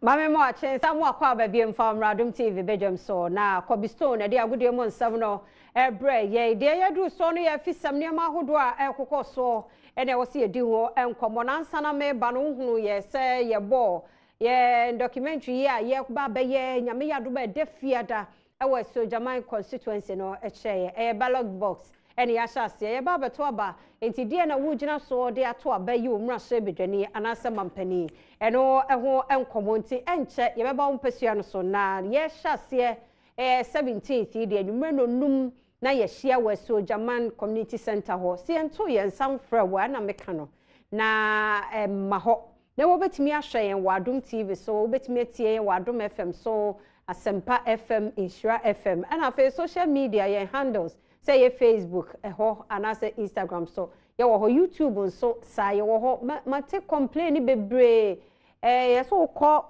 Mame mo akyen sa mo akɔ aba biem fa omra dom TV bedwam so na Kobe Stone ɛde agodie mo nsɛm no ɛbrɛ yɛn deɛ yɛ duru so no yɛ afisɛm nneɛma ahodoɔ a ɛkokɔ so ɛna ɛwɔ sɛ yɛdi ho nkɔmmɔ na ansa na meba no wohunu yɛ sɛ yɛbɔ yɛ documentary yi a yɛba bɛyɛ nyame yɛ adom ɛda fiada wɔ Sojaman constituency no kyerɛeɛ. Ɛyɛ ballot box na yɛahyɛ aseɛ yɛba abɛto aba. Nti deɛn na wogyina so de ato aba yi o mmarahyɛbadwani anaasɛ mampanin? Ɛno ho nkɔmmɔ nti ɛnkyɛ yɛbɛba wo mpasua no so na yɛhyɛ aseɛ ɛɛ 17th yi deɛ anwummerɛ nnɔnnum na yɛahyia wɔ Sojaman community centre hɔ. Sɛ yɛntoo yɛn nsa mfrɛ wo a ɛna meka no na ɛmma hɔ. Na wobɛtumi ahwɛ yɛn wɔ Adom TV so, wobɛtumi atie yɛn wɔ Adom FM so, Asempa FM, Nhyira FM, ɛna afei social media yɛn handles sɛ ɛyɛ Facebook ɛhɔ anaasɛ Instagram so yɛwɔ hɔ, YouTube nso saa yɛwɔ hɔ. Mate complain bebree, ɛɛ yɛsɛ wokɔ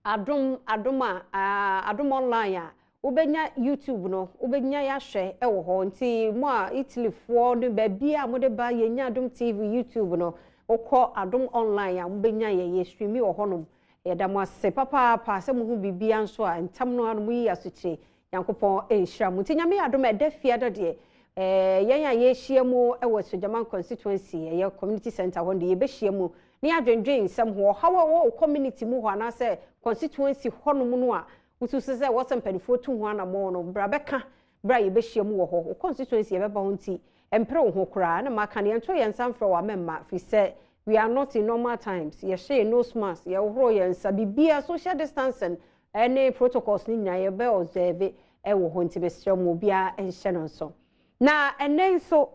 Adom adom a adom online a wobɛnya YouTube no wobɛnya yɛahwɛ wɔ hɔ nti mo a Italy foɔ ne baabi a mode ba yɛnya adom TV YouTube no wokɔ adom online a mobɛnya yɛ yɛ streami wɔ hɔnom yɛda mo ase papaapa sɛ mo ho biribia nso a ntam no ano mo yi asokyire Nyankopɔn nhyira mo. Nti Nyame yɛ adom a ɛda fiada deɛ eh, yɛn a yɛhyia mu wɔ Sogyaman constituency, ɛyɛ community center hɔ no deɛ yɛbɛhyia mu na yɛadwendwen nsɛm ho. Ɔhaw a ɛwɔ wo community mu hɔ anaasɛ constituency hɔnom no a wosusu sɛ ɛwɔ sɛ mpanimfoɔ tu ho anammɔn no, bra bɛka berɛ a yɛbɛhyia mu wɔ hɔ. Wo constituency yɛbɛba hɔ nti mpere wo ho koraa. Na maka no, yɛnto yɛn nsa mfrɛ wo amɛmma firi sɛ we are not in normal times. Yɛhyɛ yɛn nose mask, yɛhohoro yɛn nsa, biribiara social distancing ne protocols no nyinaa yɛbɛ observe wɔ hɔ nti mesrɛ mo obiara nhyɛ no nso. Na ɛnɛ nso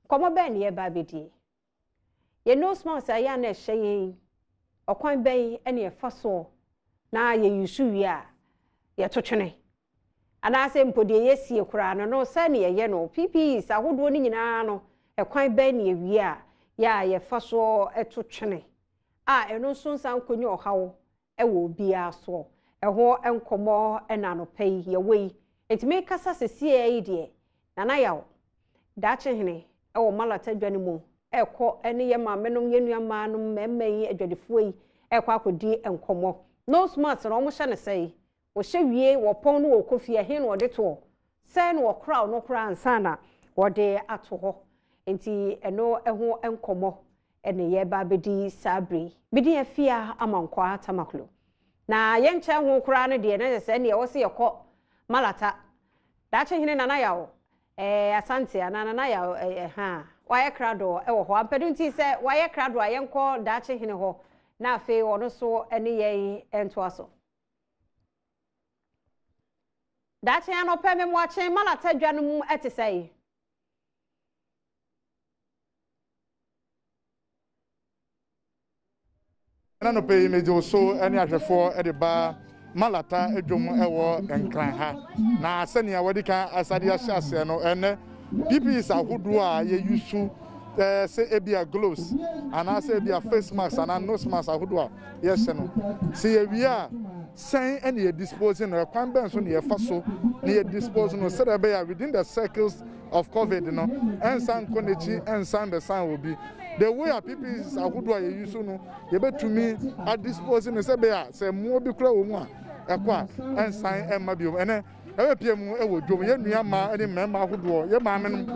nkɔmmɔ bɛn na yɛba abɛdie? Yɛn nose mask a yɛ a na ɛhyɛ yɛn yi ɔkwan bɛn na yɛfa soɔ na yɛ use wie a yɛto twene? Anaasɛ mpo deɛ yɛsie koraa no no sɛn na yɛyɛ no? PPEs ahodoɔ no nyinaa no ɛkwan bɛn na yɛwie a yɛ a yɛfa soɔ to twene a ɛno nso nsan nkɔnya ɔhaw wɔ obiara soɔ. Ɛho nkɔmmɔ na anɔpa yi yɛwɔ yi. Enti mekasa sesieɛ yi deɛ, Nana Yaw, Daakyehene wɔ Malata adwa no mu rekɔ ne yɛn maamenom, yɛn nuammaa nom, mmarima yi, adwadifoɔ yi rekɔ akɔdi nkɔmmɔ. Nose mask no, wɔhyɛ no sɛn? Wɔhyɛ wie, wɔpɔn na wɔkɔ fie. Ɛhe na wɔde toɔ? Sɛn na wɔkoraw no koraa ansa na wɔde ato hɔ? Enti ɛno ho nkɔmmɔ na yɛreba abɛdi saa bere yi. Me din Afia Amankwah Tamaklo. Na yɛnkyɛn ho koraa no deɛ, na ɛsɛ sɛ ɛnneɛ ɛwɔ sɛ yɛkɔ Malata. Daakye hene Nana Yaw eh, Asante anaa Nana Yaw eh, eh, ha. Wayɛ krado wɔ hɔ ampa. Ɛno nti sɛ wayɛ krado a, yɛnkɔ Daakye hene hɔ na afei ɔno nso ne yɛn ntoa so. Daakye anɔpɛ me mmoakyen malata dwa no mu te sɛe. na nɔpɛ yi megye wo so ne ahwɛfoɔ de ba malata adwom wɔ nkran ha na sɛnea wɔde kan asade ahyɛ aseɛ no ɛnɛ PPEs ahodoɔ a yɛ use ɛɛ sɛ ebia gloves anaasɛ ebia face mask anaa nose mask ahodoɔ a yɛhyɛ no sɛ yɛwie a sɛn ɛna yɛ dispose no ɛkwan bɛn so na yɛfa so na yɛ dispose no sɛdeɛ ɛbɛyɛ within the circles of covid no ɛnsan nkɔ n'akyi ɛnsan bɛsan wɔ bi the way a PPEs ahodoɔ a yɛ use no yɛbɛtumi a dispose no sɛ ɛbɛyɛ sɛ mmoa bi kura wɔ mu a ɛkɔ a ɛnsan ɛmma bio ɛnɛ Yɛbɛpia mu wɔ dwom. Yɛn nua mmaa ne mmarima ahodoɔ, yɛn maamenom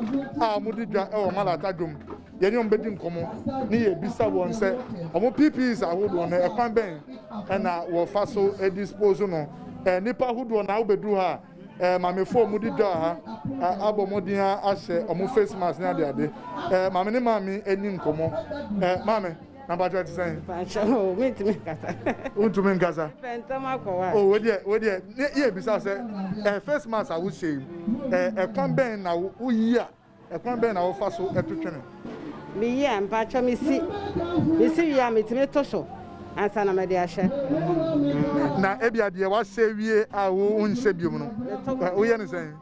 a wɔdi dwa wɔ Malata dwom, yɛne wɔn bɛdi nkɔmmɔ ne yɛbisa wɔn sɛ wɔn PPEs ahodoɔ no ɛkwan bɛn na wɔfa so dispose no. Nnipa ahodoɔ na wobɛduru ha a Eh, mamefoɔ mu di dwa ha eh, abɔ mmɔden ahyɛ wɔn face mask ne adeade eh, maame ne maame ani nkɔmmɔ maame Na mpakyɛ ɛte sɛn? Mpakyɛ oo me ntumi nkasa. Wo ntumi nkasa? Me pɛ ntɛm akɔ wa. Oh wo deɛ wo deɛ ne yɛ bisa sɛ ɛɛ face mask a wo hyɛ yi ɛɛ ɛkwan bɛn na wo wo yi a ɛkwan bɛn na wo fa so ɛto twene? Me yi a mpakyɛ me si me si wie a me tumi to so ansa na me de ahyɛ. Na ebi a deɛ wa hyɛ wie a wo nhyɛ biom no wo yɛ ne sɛn?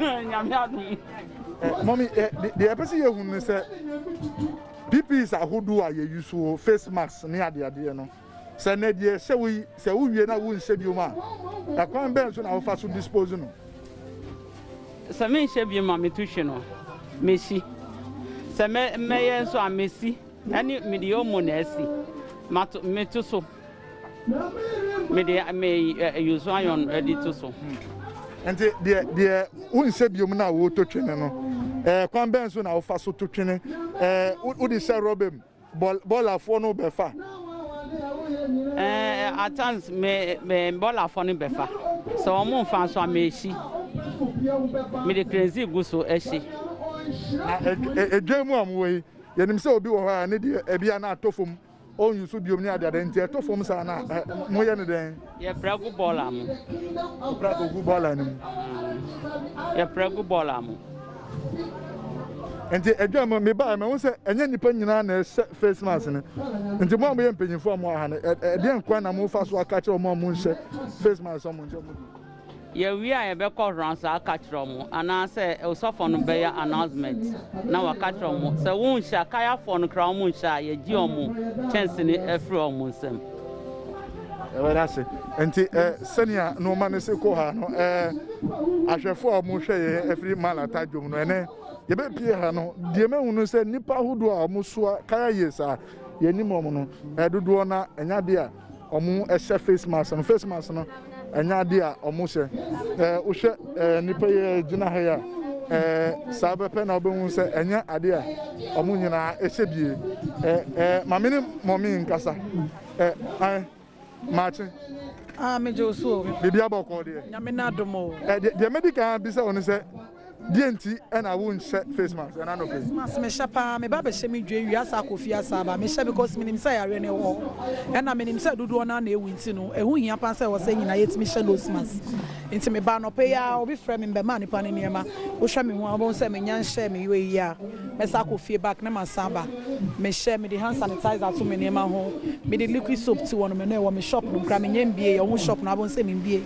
Nyame adom. Mɔmi, deɛ ɛpɛ sɛ yɛhu ne sɛ PPEs ahodoɔ a yɛyi so wɔ face mask ne adeadeɛ no, sɛ nɛ deɛ ɛhyɛ wo yi, sɛ wowie na wonhyɛ biom a, ɛkwan bɛn so na wofa so dispose no? Sɛ menhyɛ biom a metu hwe no, mesi. Sɛ mɛyɛ nso a, mesi ɛne mede omo na ɛsi, meto so. Mede me Yosaon adi to so. Nti deɛ deɛ wonsɛ biom na woto twene no ɛɛ kwan bɛn so na wofa so to twene ɛɛ wode sɛ rɔba mu bɔl bɔlafoɔ no bɛfa. Ɛɛ at times me me bɔlafoɔ no bɛfa sɛ wɔn nfa nso a mɛsi mede krenzi gu so ɛsi. Na edwa mu a wɔwɔ yi yɛnim sɛ obi wɔ hɔ a ne deɛ ɛbia na atɔ fam ɔnyi so biom ne adeade nti ɛtɔ fam saa na ɛ mo yɛ ne dɛn. Yɛ pra gu bɔɔla mo. Mo pra kɔ gu bɔɔla no mu. Mm. Yɛ pra gu bɔɔla mo. Nti adwa mo me baa mɛho sɛ ɛnyɛ nipa nyinaa na ɛhyɛ face mask no nti mo a mo yɛ mpanyinfoɔ a mo aha no ɛdeɛ nkwan na mo fa so aka kyerɛ wɔn a mo nhyɛ face mask wɔn nkyɛn mo di. Yɛwie a yɛbɛkɔ Hransa aka kyerɛ ɔmo anaa sɛ osɔfɔ no bɛyɛ announcement na waka kyerɛ ɔmo. Sɛ won nhyɛ a, kayafɔɔ no koraa ɔmo nhyɛ a, yɛgye ɔmo kyɛnsene firi ɔmo nsam. Yɛda ase. Nti eh, sɛnea nnoɔma no si kɔ ha no eh, ahwɛfoɔ a ɔmo hwɛ yɛn afiri Malata dwom no, ɛnɛ yɛbɛpie ha no, deɛ mahu no sɛ nnipa ahodoɔ a ɔmo soa kaya years a yɛnim ɔmo no, eh, dodoɔ no ara ɛnyɛ adeɛ a wɔhyɛ face mask no face mask no ɛnyɛ adeɛ a wɔhyɛ ɛɛ wohwɛ ɛɛ nipa yi a gyina ha yi a ɛɛ saa bɛpɛ na wɔbɛhu sɛ ɛnyɛ adeɛ a wɔn nyinaa ɛhyɛ bie ɛɛ ɛɛ maame ne mɔmi nkasa ɛɛ ɛɛ maakye. Ah, me gye wo so. Biribi abɔ kɔɔ deɛ. Nyame na adom o. Ɛɛ deɛ mɛdi kan bisa wɔn sɛ. Deɛ nti na wo nhyɛ face mask ɛna nɔpɛ yi. Face mask me hyɛ paa me ba bɛ hyɛ me dwe wie asa akɔ fie asa aba me hyɛ because me nim sɛ yareɛ no ɛwɔ hɔ ɛna me nim sɛ dodoɔ naa na ɛwu nti no ɛho hia paa sɛ ɛwɔ sɛ nyinaa yɛ tumi hyɛ nose mask nti me ba anɔpɛ yi aa obi frɛ me me bɛ maa nipa no nneɛma wo hwɛ me ho a wo bɛ hu sɛ me nya nhyɛ me wei yi a mɛ sa akɔ fie back na ma san aba me hyɛ me de hand sanitizer to me nneɛma ho me de liquid soap ti wɔ no me no ɛwɔ me shop no kura me nyɛ mbie yɛ ɔmo shop no abɔ nsɛ me mbie.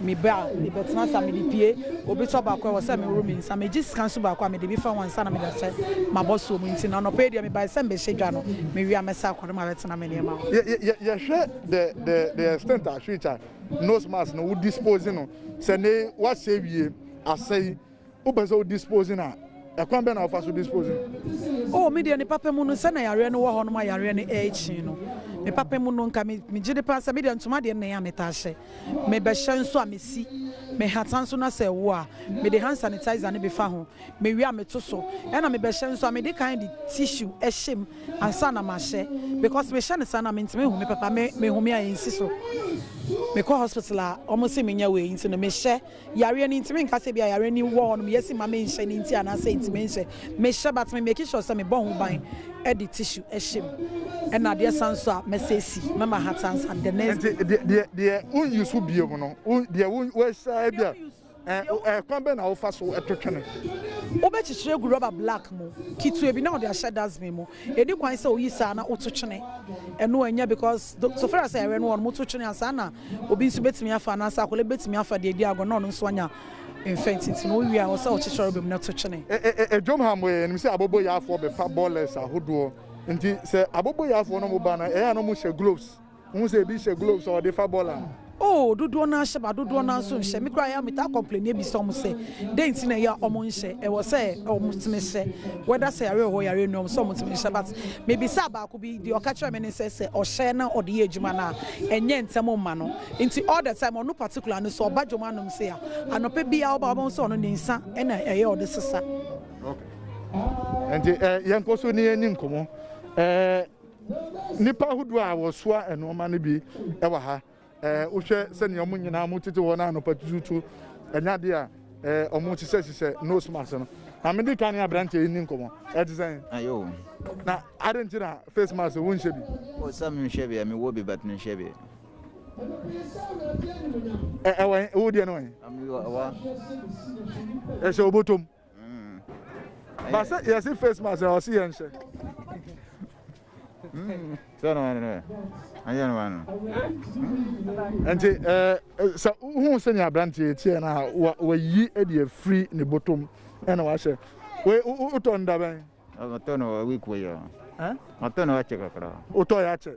Me ba, mebɛtena ase a mede pie obi tɔ baako a ɛwɔ sɛ meworo me nsa. Megye sika nso baako a mede bi fa ho ansa na mede ahyɛ m'abɔsoɔ mu. Nti na anɔpa yi deɛ mebae sɛ mebɛhyɛ dwa no, mewie a mɛsan akɔ na mabɛtena me nneɛma hɔ. Yɛhwɛ the the the extent a which a nose mask no wo dispose no sɛ ne wasɛe wie asɛe Wopɛ sɛ wo dispose no a, ɛkwan bɛn na wofa so dispose no? Oh, me deɛ ne papa mu no, sɛnea yareɛ no wɔ hɔ no ma yareɛ no ɛrekyi no. Me papa mu no, nka me megye de paa sɛ me deɛ ntoma deɛ nnɛn a metaa hyɛ. Mebɛhyɛ nso a mesi me nhata nso na sɛ ɛwo a, mede hand sanitizer no befa ho. Mewie a meto so. Ɛna mebɛhyɛ nso a, mede kan de tissue hyɛ mu ansa na mahyɛ. Because mehyɛ no saa no a, mentumi nhu me papa. Me mehome a ɛnsi so. Mekɔ hospital a, wɔse menya wei nti no, mehyɛ. Yareɛ no ntumi nka sɛ ebia yareɛ no wɔ hɔnom yɛ se ma me nhyɛ no nti anaasɛ nti me nhyɛ. Me hyɛ but me make sure sɛ me bɔ ho ban de tissue hyɛ mu ɛna adeɛ sa nso a mɛ sɛ si mɛ ma hata nsa the next day. Nti deɛ deɛ wo use wo bie mu no wo deɛ wo wo hyɛ ebia ɛɛ kwan bɛ na wo fa so ɛto twene. Wo bɛ kyekyere gu rubber black mu ketewa bi na wo de ahyɛ dustbin mu Edi kwan sɛ oyi saa na oto kyene. Ɛno ɛnyɛ because do so far sɛ ɛrɛ no wɔ no mo to kyene a saa na obi nso betumi afa anaasɛ akwadaa bi betumi afa deɛ edi agorɔ na ɔno nso anya mfɛ nti nti no owie a ɛwɔ sɛ ɔkye kyerɛwbem no to kyene. E-e-e-e dwom ha mo yɛnim sɛ abɔbɔyaafoɔ bɛfa bɔɔlɛs ahodoɔ nti sɛ abɔbɔyaafoɔ no mo ba no ɛyɛ a na ɔmo hyɛ gloves. Wohu sɛ ebi hyɛ gloves a wɔde fa bɔɔl a? Oh, dodoɔ no ara hyɛ but dodoɔ no ara nso nhyɛ. Me koraa metaa complaini bisa wɔn sɛ dɛn nti na ɛyɛ a wɔnhyɛ. Ɛwɔ sɛ wɔtumi hyɛ whether sɛ yare wɔ hɔ yare nni hɔ, ɛwɔ sɛ wɔtumi hyɛ. But mebisaa baako bi, deɛ ɔka kyerɛɛ me ne sɛ sɛ ɔhyɛ na ɔde yɛ adwuma no a, ɛnyɛ ntɛm mma no. Nti all the time ɔno particular no sɛ ɔba dwom anom sei a, anɔpa biara ɔba a wobɛhu sɛ ɔno ne nsa na ɛyɛ ɔde sesa. Okay. Nti eh, yɛnkɔ so ne yɛni nkɔmmɔ. Eh, Nnipa ahodoɔ a wɔsoa nnoɔma no bi wɔ ha. Wohwɛ sɛnea wɔn nyinaa mo tete hɔ no anɔpa tututu, ɛnyɛ adeɛ a wɔn hyehyɛ hyehyɛ nose mask no. Na mede kan ne aberanteɛ yi ni nkɔmɔ. Ɛte sɛn? Ayo. Na ade nti na face mask wo nhyɛ bi? O sɛ menhyɛ bi a mewɔ bi but menhyɛ bi. Ɛwɔ wo deɛ no wɔn? Ɛwɔ. Ɛhyɛ obotom. Ba sɛ yɛsi face mask na ɔsi yɛn hyɛ. Sɛ na ɔno yɛ ayɛ no ano. Nti ɛɛ sɛ wohu sɛ nea aberanteɛ tiɛ na wayi ɛde afiri ne bɔtɔm ɛna wahyɛ. Wei wotɔ nda bɛn? Ɔtɔ no week wei yɛ. Ɔtɔ no akyɛ kakra. Wotɔ yɛ akyɛ.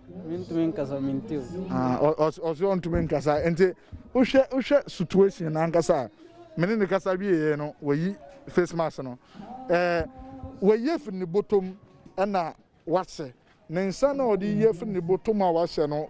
Mentumi nkasa mente o. Ah, ɔsɛ ɔntumi nkasa nti wohwɛ wohwɛ situation ankasa a mene ne kasa wieɛ no wayi face mask no eh, wayi afiri ne bɔtɔm ɛna wahyɛ ne nsa na ɔde yi afiri ne bɔtɔm a wahyɛ no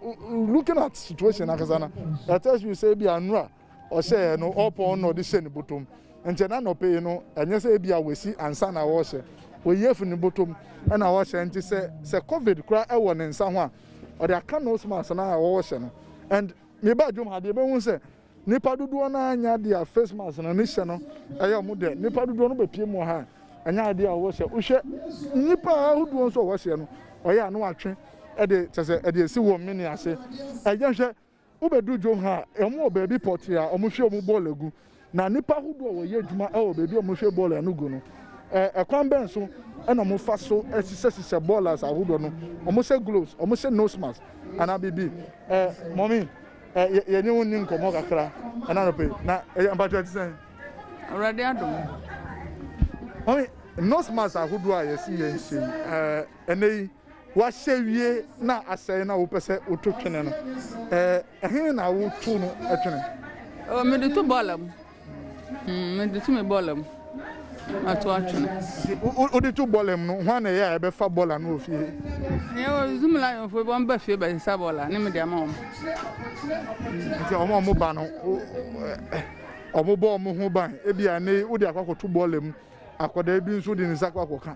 looking at situation ankasa no it tells you sɛ bi anura Ɔhyɛɛ no ɔpɔn na ɔde hyɛ ne botom. Nkyɛ na nɔpe yi no, ɛnyɛ sɛ ebia wasi ansa na ɔrehyɛ. Oyi afi ne botom na ɔrehyɛ. Nti sɛ sɛ covid koraa wɔ ne nsa ho a, ɔde aka nose mask no a ɔrehyɛ no. And mebaa dwom ha de, yɛbɛhu sɛ nnipa dodoɔ no ara nyɛ adeɛ a face mask no ne hyɛ no yɛ wɔn dɛ. Nnipa dodoɔ no bɛpue mu wɔ ha a, ɛnyɛ adeɛ a wɔhyɛ. Wohwɛ nnipa ahodoɔ nso a wɔhyɛ no, ɔyɛ a na wɔatwe de kyɛ sɛ ɛde asi wɔn mene ase. Yɛnhwɛ Wobedu Jonha a, wɔwɔ baabi pɔtee a wɔhwie wɔn bɔɔla gu, na nnipa ahodoɔ a wɔyɛ adwuma wɔ baabi a wɔhwie bɔɔla no gu no. Ɛ, ɛkwan bɛn so na wɔfa so sisɛsisɛ bɔɔlas ahodoɔ no? Wɔhyɛ gloves, wɔhyɛ nose mask, anaa biribi? Ɛ, mɔmi, ɛ, yɛ, yɛne wo nni nkɔmmɔ kakra ɛna anɔpa yi. Na, ɛ, mpakyɛ ɛte sɛn? Awurade adom. Mɔmi, nose mask ahodoɔ a yɛsi yɛnhyɛ yi, ɛ, ɛnɛ yi. Woahyɛ wie na asɛe na wopɛ sɛ woto twene no, ɛhe na woto no twene? Oh, mede to bɔɔla mu. Hmm, mede to me bɔɔla mu. Mato atwene. Wode to bɔɔla mu no, hwan na ɛyɛ a ɛbɛfa bɔɔla no wɔ fie? Yɛwɔ Zoom Lionfoɔ bi, wɔba fie bɛsesa bɔɔla ne mede ama wɔn. Nti wɔn a wɔba no, wɔbɔ wɔn ho ban. Ebia ne wode akɔ akɔto bɔɔla mu, akwadaa bi nso de ne nsa akɔ akɔka.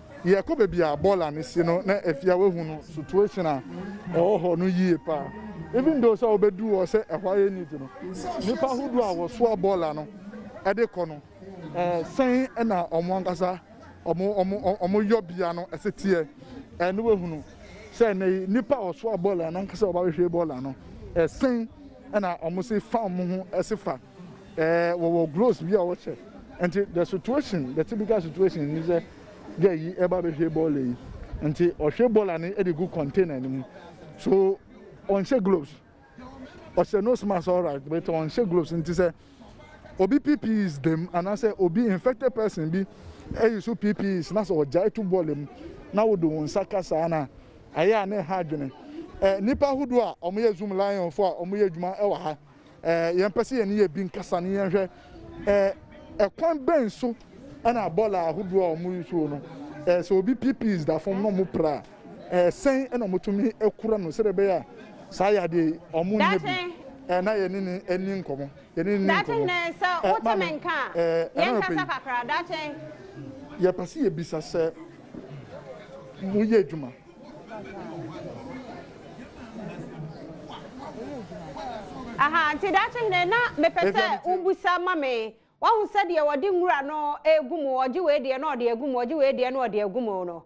Yɛkɔ baabi a bɔɔla no si no na afie a wahu no situation a ɛwɔ hɔ no yie paa even though sɛ wobɛduu hɔ sɛ ɛhɔ ayɛ neat no nnipa ahodoɔ a wɔsoa bɔɔla no de kɔ no sɛn na wɔn ankasa wɔn yɔbea no ɛse teɛ ɛne wahunu sɛ ɛnɛ yi nnipa a wɔsoa bɔɔla no ankasa wɔba bɛhwɛ bɔɔla no ɛsen na wɔn se fa wɔn ho ɛse fa Eh wɔwɔ gloves bi a wɔhyɛ nti the situation the typical situation ni sɛ girl yi ɛba bɛhwɛ bɔɔla yi nti ɔhwɛ bɔɔla no de gu container no mu so ɔnhyɛ gloves ɔhyɛ nose mask alright but ɔnhyɛ gloves nti sɛ obi PPEs dam anaasɛ obi infected person bi ɛyi so PPEs na sɛ ɔgyae to bɔɔla mu na wode wo nsa ka saa na ayɛ a na ɛha adwene eh, nipa ahodoɔ a wɔyɛ zoom lion fo a wɔyɛ adwuma ɛwɔ ha. Eh, yɛmpɛ sɛ yɛne yɛ bi nkasa ne yɛnhwɛ eh, ɛkwan bɛn so ɛna bɔɔla ahodoɔ a wɔn yusuo no eh, sɛ obi pipis da fam na wɔn pra eh, sɛn ɛna wɔtumi akura no sɛdeɛ ɛbɛyɛ a saa yadeɛ yi wɔn nyɛ bi eh, na yɛne ne ani nkɔmɔ yɛne ne nkɔmɔ daakye nɛ sɛ eh, wote me nka a eh, yɛnkasa kakra daakye yɛpɛ sɛ yɛbisa sɛ moyɛ adwuma aha nti daakye hene na mepɛ sɛ wobusa ma me wahu sɛdeɛ wɔde nwura no egu mu ɔgye wei deɛ na ɔde egu mu ɔgye wei deɛ na ɔde egu mu no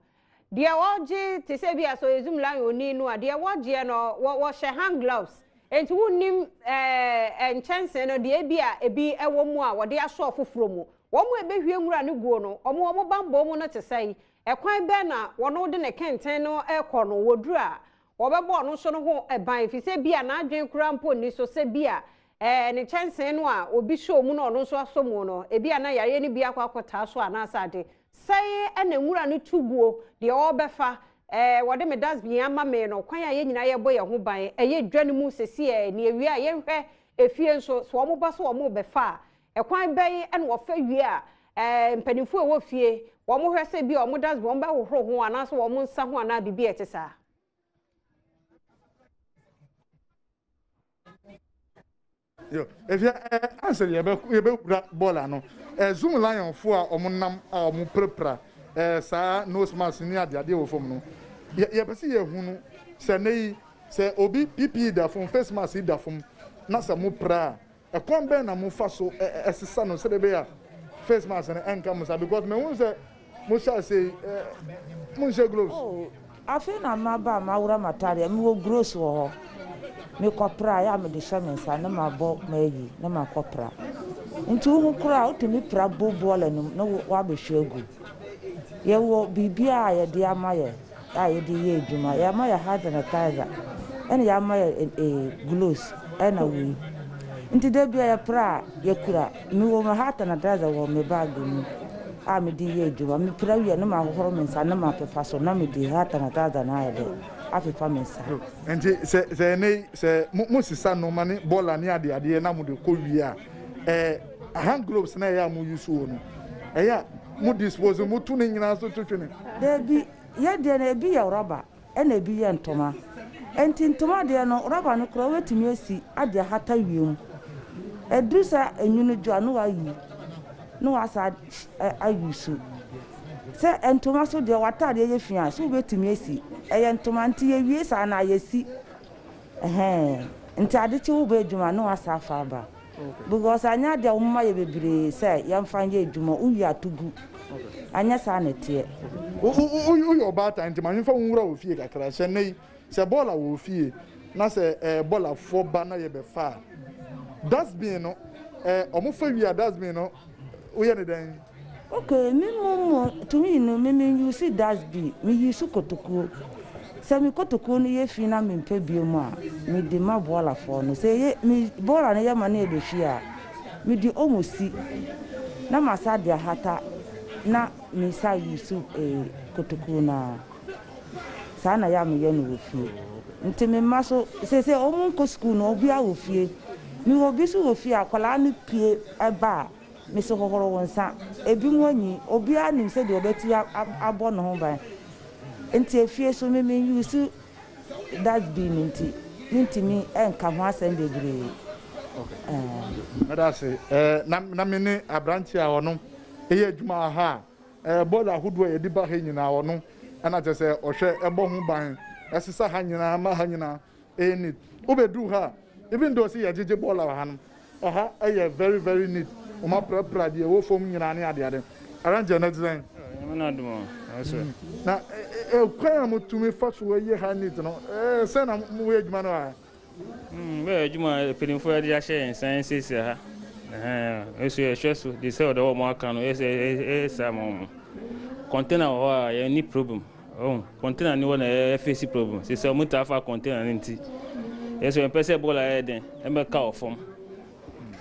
deɛ ɔgye te sɛ bi asɔ ezum lan oni no a deɛ wɔgyeɛ no wɔ wɔhyɛ hand gloves nti wonnim ɛɛ eh, nkyɛnsee no deɛ ebi a ebi ɛwɔ mu a wɔde asɔ foforɔ mu wɔn a ebehwie nwura no guo no wɔn wɔn bambɔ mu no te sɛ yi Ɛkwan bɛn na wɔn a wode ne kɛntɛn no rekɔ no wɔ duru a wɔbɛbɔ ɔno nso no ho ban, efisɛ ebia n'adwene koraa mpo nni so sɛ bia ɛɛ ne kyɛnsee no a obi sɔɔ mu na ɔno nso asɔ mu no, ebia na yareɛ no bi akɔ akɔtaa so anaasɛ ade. Sɛe na nwura no tu guo, deɛ ɔrebɛfa ɛɛ wɔde me dustbin ama me no, kwan a yɛn nyinaa yɛrebɔ yɛn ho ban, ɛyɛ dwa no mu seseɛ, na yɛwie a yɛnhwɛ efie nso, sɛ wɔba sɛ wɔrebɛfa a, Ɛkwan bɛn na wɔfa wie a mpanimfoɔ a ɛwɔ fie wɔhwɛ sɛ bi a wɔn dustbin wɔn bɛhohoro ho anaasɛ wɔn nsa ho anaa biribi a ɛte saa? Yo, if you eh, answer you be you be kura bola no. Eh, zoom lion fo a omo nam a omo prepra eh saa nose mask ni ade ade wɔ fam no. Ye ye pese ye hu no sɛ nei sɛ obi pipi da fam face mask da fam na sɛ mo pra Ɛkwan bɛn na mofa so sesa no sɛdeɛ ɛbɛyɛ a face mask no ɛnka mo saa because mahunu sɛ mohyɛ ase yi monhyɛ gloves. Oh, afei na maba a mawora m'atadeɛ a mewɔ gross wɔ hɔ mekɔpra a ɛyɛ a mede hyɛ me nsa na mabɔ mayi na makɔpra nti wohu koraa wotumi pra bowl boiler no mu na woabɛhwie agu. Yɛwɔ biribiara a yɛde ama yɛ. a yɛde reyɛ adwuma, yɛama yɛn hand sanitizer ɛna yɛama yɛn gloves ɛna wei nti da biara yɛpra a yɛkura, mewɔ me hand sanitizer wɔ me bag mu a mede reyɛ adwuma, mepra wie a na mahohoro me nsa na mapepa so na mede hand sanitizer no ayɛ dɛ apepa me nsa. Nti sɛ sɛ ɛnɛ yi sɛ mo mo sesa nnoɔma ne bɔɔla ne adeadeɛ na mode kɔ wie a ɛɛ hand gloves no a ɛyɛ a mo use wɔ no ɛyɛ a mu dispose no, moto ne nyinaa so twetwe ne. Dabi, yɛ deɛ no ebi yɛ rɔba ɛna ebi yɛ ntoma. Ɛnti ntoma deɛ no rɔba no koraa wobɛtumi asi ade ahata wiem. Ɛduru sɛ enwunu dwo a ne wayi, ne wasa a use. Sɛ ntoma nso deɛ w'ataadeɛ yɛ fi a nso wobɛtumi asi. Ɛyɛ ntoma nti yɛ wie saa no a yɛsi. Ɛhɛɛ, nti adekye wobɛ adwuma a ne wasa afa aba. Because anyɛ adeɛ a wɔma yɛ bebree sɛ yɛmfa nyɛ adwuma, wowie a to gu. Anyɛ saa na ɛteɛ. Woyɛ ɔbaatan nti ma yɛmfa wo nwura wɔ fie kakra. Hyɛ nnɛ yi, sɛ bɔɔla wɔ wo fie na sɛ bɔɔlafoɔ ba na yɛbɛfa a, dustbin no, wɔfa wie a dustbin no woyɛ no dɛn? Okay me mum mo tumi no me me use das bi me use kotokuo sɛ me kotokuo no yɛ fii na me mpɛ bio mu a me de ma bɔɔla fɔɔ no sɛ ɛyɛ me bɔɔla no yɛ ma no yɛ bɛ fii a me de ɔmo si na ma sa de ahata na me sa use ee kotokuo no aa saa na yɛ a me yɛ no wɔ fie nti me mma so sɛsɛ ɔmo nkɔ sukuu no ɔbia wɔ fie me wɔ bi so wɔ fie a akwadaa no pie ɛba a. Mese hohoro wo nsa. Ebinom anyin. Obiara nim sɛdeɛ ɔbɛtumi abɔ ne ho ban. Enti efie so me me use dustbin nti mentumi nka ho asɛm bebree. Okay. Meda ase. Na na me ne aberanteɛ a ɔno ɛyɛ adwuma wɔ ha a bɔɔla ahodoɔ a yɛde ba ha nyinaa ɔno ɛna kyerɛ sɛ ɔhwɛ ɛbɔ ho ban ɛsesa ha nyinaa ma ha nyinaa ɛyɛ neat wobɛduru ha a even though sɛ yɛgyegye bɔɔla wɔ hanom ɛha ɛyɛ very very neat wɔn aprapra deɛ ɛwɔ fam nyinaa ne adeade arrange na ɛte sɛn Nyame na adom o ɛsɛ na ɛkwan a motumi fa so ɛyɛ ha neat no ɛɛ sɛn na moyɛ adwuma no wɔ ha Hmm, bɛyɛ adwuma a mpanimfoɔ yɛde ahyɛ yɛn nsa nsiesie ha Ɛhɛn, nso yɛhwɛ so de sɛ ɔdɛ wɔ mo aka no ɛsɛ ɛyɛ saa ma wɔn container wɔ hɔ a yɛnni problem Ohh container no hɔ na yɛ face problem sesɛ ɔmo taa fa container no nti yɛ so yɛn pɛ sɛ bola yɛ den ɛmɛ ka wɔ fam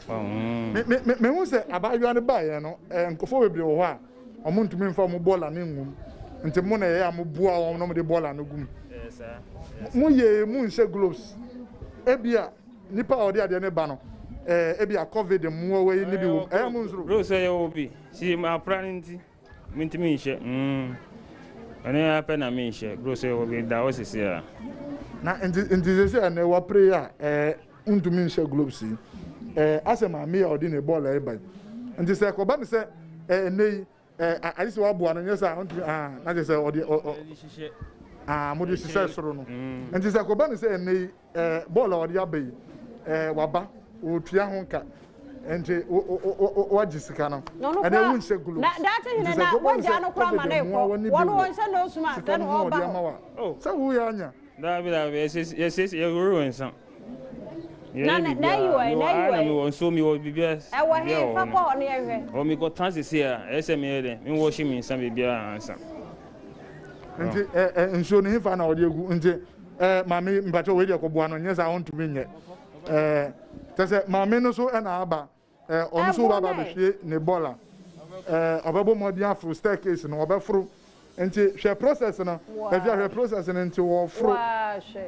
uhmm. Me hu sɛ abaayewa no baa yɛ no ɛɛ nkorɔfoɔ bebree wɔ hɔ a ɔmo ntumi nfa ɔmo bola no ngu mu nti mo na yɛ a mo boa wɔn na ɔmo de bola no gu mu mo yɛ ee mo nhyɛ gloves ebia nipa a ɔde adeɛ no ba no ɛɛ ebia covid mmoa wei ne bi wɔ mu ɛɛ mo nsoro. Bro sɛ yɛ wɔ bi si yɛ mu apra no nti. Mentumi nhyɛ mm ɛno ara pɛ na menhyɛ bro sɛ obi da hɔ sisi a. Na nti nti sisi a ɛnɛ wapere a ɛɛ wontumi nhyɛ globes yi ɛɛ asɛ maame a ɔde ne bɔɔl ɛɛba yi nti sɛ ɛkɔba ne sɛ ɛɛ ɛnɛ yi ɛɛ agye sɛ waboa no nyɛ sɛ a wontumi aa na kyɛ sɛ ɔde ɔ ɔ aa mode hyehyɛ soro no nti sɛ ɛkɔba ne sɛ ɛnɛ yi. Eh, bɔɔl a ɔde aba yi, eh, waba, ɔretua ho ka. Nti, wagye sika no. Ɛnna ewu nhyɛ gulo. Na daakye hene na wagya no kora ma no ekɔ. Wɔn wɔn hyɛ nose mask ɛna wɔn ba hɔ. Oh. Sɛ wo yɛ anya. Daabi daabi, yɛsiesie yɛsiesie yɛhoro wɔn nsa. Na na na yi wɔ na yi wɔ. Na mi wɔ nsuo mi wɔ biribiara. Ɛwɔ he fa kɔ hɔ ne yɛhwɛ. Wɔ mi kɔ tan sisi a ɛyɛ sɛ mi yɛ dɛ mi wɔ hyɛ mi nsa biribiara ansa. Nti ɛ ɛ nsuo no he fa na ɔde egu nti. Eh maame mpakyɛ wei deɛ kɔboa no nyɛ saa ɔntumi nyɛ eh kyɛ sɛ maame no so ɛna aba eh ɔno so baba bɛhwie ne bɔla eh ɔbɛbɔ mmɔden aforo staircase no ɔbɛforo nti hwɛ process no ɛfia hwɛ process no nti ɔforo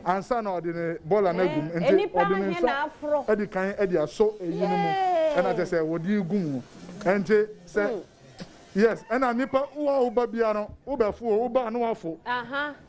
ansa na ɔde ne bɔla no agum eh, nti ɔde ne nsa ɛdi kan ɛde asɔ eyi no mu ɛna kyɛ sɛ wɔde gu mu nti sɛ hmm. yes ɛna nipa wo a woba bia no wobɛfo o woba no wafo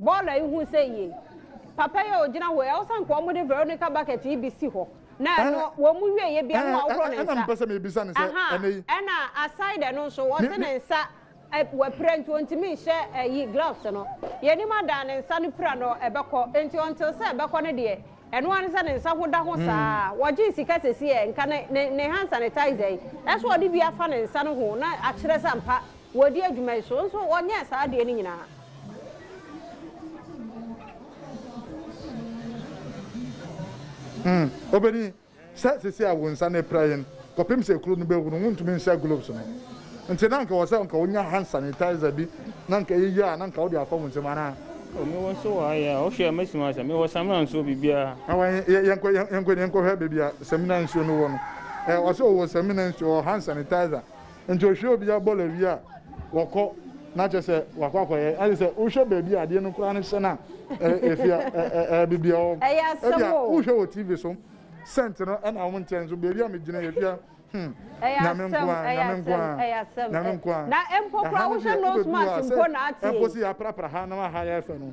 Bɔɔl a ihu sɛ eye papa yi a ogyina hɔ yi, ɛwɔ sɛ anka wɔde Veronica bucket yi bi si hɔ, na ɛno wɔn wieɛ bi a na wahohoro ne nsa. Ɛna mepɛ sɛ mebisa no sɛ ɛnɛ yi. Ɛna aside ɛno nso, wɔse ne nsa wapira nti ɔntumi nhyɛ ayi gloves no. Yɛn anim adan ne nsa no pira no ɛbɛkɔ, nti until sɛ ɛbɛkɔ no deɛ, ɛno ara ne sɛ ne nsa ho da ho saa. Wɔgyee sika sɛsi ɛ, nka ne hand sanitizer yi, ɛsɛ wɔde bi afa ne nsa no ho na akyerɛ sɛ ampa wɔredi adwuma yi so, nso wɔnyɛɛ saa adeɛ no nyinaa. Na wɔn a wɔde wɔn ho atetew hɔ no, ankonamfo no hye wɔn, na wɔde wɔn adidi kɔ hɔ. Na wɔn a. Obedi, sɛ seesei a wo nsa no apira yɛn kɔpem sɛ kuru no bɛhuru, wontumi nhyɛ gloves no. Nti na anka ɛwɔ sɛ anka wonya hand sanitizer bi na anka ɛyɛ yie a na anka wode afa wo nsam, anaa? O, mewɔ nso wɔ ha yi a, wohwɛ a mɛsi mu asa? Mewɔ samina nso, biribiara. Na wɔn, yɛ, yɛnkɔ, yɛ, yɛnkɔ, yɛnkɔhwɛ baabi a samina nsuo no wɔ no. Ɛ, ɔse ɔwɔ samina nsuo, ɔwɔ hand sanitizer, Nti ohwie obia bɔlɔ wie a wɔkɔ na kyɛ sɛ wakɔ akɔyɛ ɛne sɛ wohwɛ baabi a adeɛ no koraa no hyɛ no a ɛfi a ɛbibi a ɛbia wohwɛ wɔ tv so sɛnt no ɛna wɔn nkyɛn nso baabi a megyina yɛ fia hmm nyame nkoa nyame nkoa nyame nkoa na mpo koraa wohwɛ nose mask mpo na ate ɛmpo si yɛ aprapra ha na waha yɛ fɛ no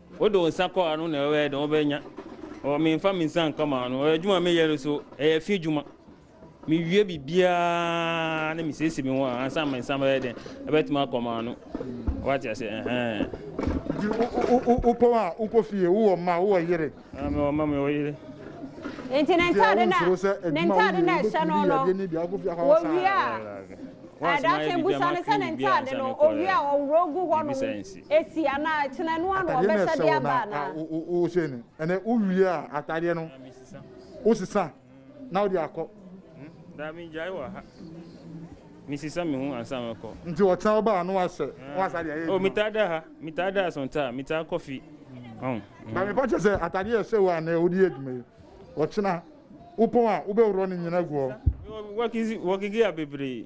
Wode wo nsa kɔ ano na wobɛyɛ dɛn? Wobɛnya. Ɔ, memfa me nsa nka m'ano. Ɔ, adwuma a meyɛ no nso, ɛyɛ fi adwuma. Mewie biribiara na mesiesie me ho a, ansa me nsa bɛyɛ dɛn? Ɛbɛtumi akɔ m'ano. Wate ase? Ɛhɛn. Wopɔn a, wokɔ fie, wowɔ mma, wowɔ yere. Aa, mewɔ mma, mewɔ yere. Enti ne ntade na, ne ntade na ɛhyɛ no no, wɔwie a, ɛda sɛ busa no sɛ ne ntade no, ɔwie a, ɔworɔ gu hɔ nom. Esi anaa ɛkyena no ano ɔbɛhyɛ de aba anaa? Atadeɛ no ɛsɛ wo na wohyɛ no ɛnɛ wowie a atadeɛ no wosesa na wode akɔ. Daa mengyae wɔ ha mesesa me ho ansa mɛkɔ. Nti ɔkyena woba a na wahyɛ na wasa de ayɛ adwuma. Oh metaa da ha metaa da asɔnta a metaa kɔ fi ɔn. Ba mepa kyɛ sɛ atadeɛ ɛhyɛ wo a nɛ wode yɛ adwuma yi ɔkyena wopɔn a wobɛworɔ ne nyina agu hɔ. Mewɔ work gear bebree.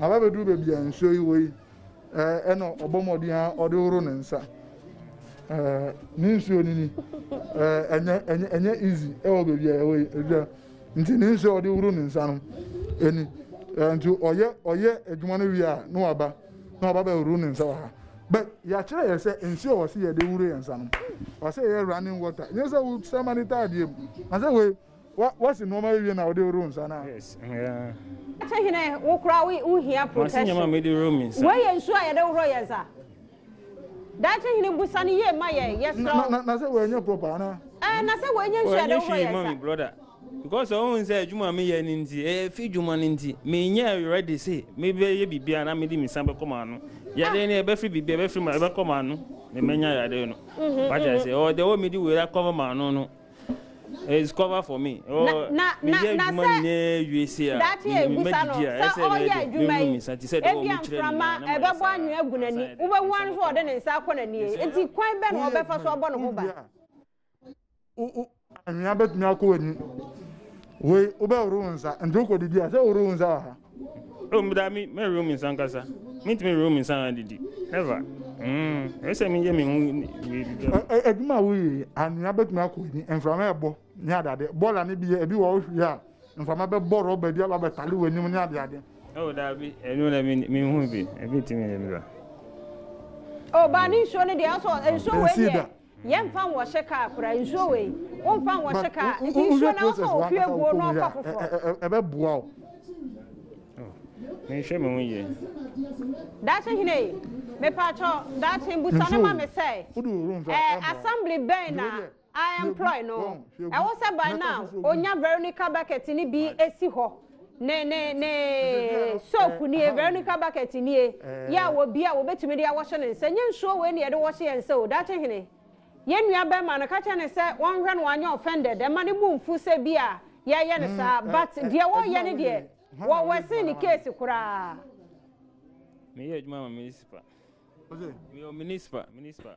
Aba bɛduru baabi a nsuo yi wɔ yi, ɛna ɔbɔ mmɔden ara ɔde horo ne nsa. Ne nsuo no ni, ɛnyɛ easy ɛwɔ baabi a ɛwɔ yi. Nti ne nsuo a ɔde horo ne nsa no ɛni. Nti ɔyɛ ɔyɛ adwuma no wie a na waba na waba bɛhoro ne nsa wɔ ha. But yɛakyerɛ yɛ sɛ nsuo a wɔse yɛde horo yɛn nsa no, wɔse yɛ running water. Nyɛ sɛ wosɛ ma no tɔ adeɛ mu. Wɔse wei Wa wasi nnoɔma awie na wode woro nsa no a. Te hene wo kora wo wo hia protection wei yɛ nsuo a yɛde woro yɛn nsa daakye hene busa no yie ma yɛn yɛsrɛ wo. Na sɛ wɔanyɛ proper ana. Ɛɛ na sɛ wɔanyɛ nsuo yɛde woro yɛn nsa. brother because ɔhun sɛ adwuma mi yɛ ne nti ɛyɛ fi dwuma ne nti mi nyɛ ready se mi bɛ yɛ biribi a na mi de mi nsa bɛ kɔ maa no yɛde ne ɛbɛ firi biribi ɛbɛ firi ma ɛbɛ kɔ maa no mɛ mɛ nya yɛde no wagya sɛ ɔde wɔ mi di wei akɔ maa no no. It's cover for me. Oh, na na na na sɛ daakye yɛ ebusa no sɛ ɔyɛ adwuma yi ebi mframa ɛbɛbɔ anwea agu n'ani wobɛhu ano sɛ ɔde ne nsa akɔ n'ani eti kwan bɛ na ɔbɛfa so abɔ ne ho ba. Anwea bɛtumi akɔ w'ani wei wobɛhoro wo nsa nti wokɔdidi a sɛ wohoro wo nsa wɔ ha. Oh, me da me me room nsa nkasa. Me ntumi room nsa na didi. Never. Mm. Ɛsɛ me yɛ me ho we bi. Adwuma wo yi, anwea betumi akɔ ni. Mframa ɛbɔ ne adade. Bɔla ne bi ebi wɔ ohwie a, mframa bɛbɔ rɔba bi aba bɛtale wɔ anim ne ade ade. Oh, da bi, ɛno na me me hu bi. Ebi tumi ne bi. Oh, ba ne nsuo ne deɛ, ɛsɛ nsuo wɔ deɛ. Yɛ nfa nwɔhyɛ kaa kora nsuo wei wo nfa nwɔhyɛ kaa nti nsuo na wofa wɔ fie guo na ɔfa foforɔ. Ɛbɛ boa wo. Menhwɛ me ho yie. Daakye hene yi mepaakyɛw daakye busa no ma me sɛ ɛɛ assembly bɛn na a employ no ɛwɔ sɛ by now onya Veronica bucket no bi si hɔ. ne ne ne soap nie veronica bucket nie yɛ a wɔbi a wɔbɛtumi de awɔhyɛ ne nsa nyɛ nsuo wei ne yɛde wɔhyɛ yɛn nsa o daakye hene yɛn nua bɛrima no ka kyerɛ ne sɛ wɔnhwɛ no wanyɛ offended ɛma ne bo mfu sɛ bi a yɛyɛ no saa but deɛ wɔyɛ ne deɛ wɔwɔ sen ne case koraa meyɛ adwuma ma municipal meyɛ municipal municipal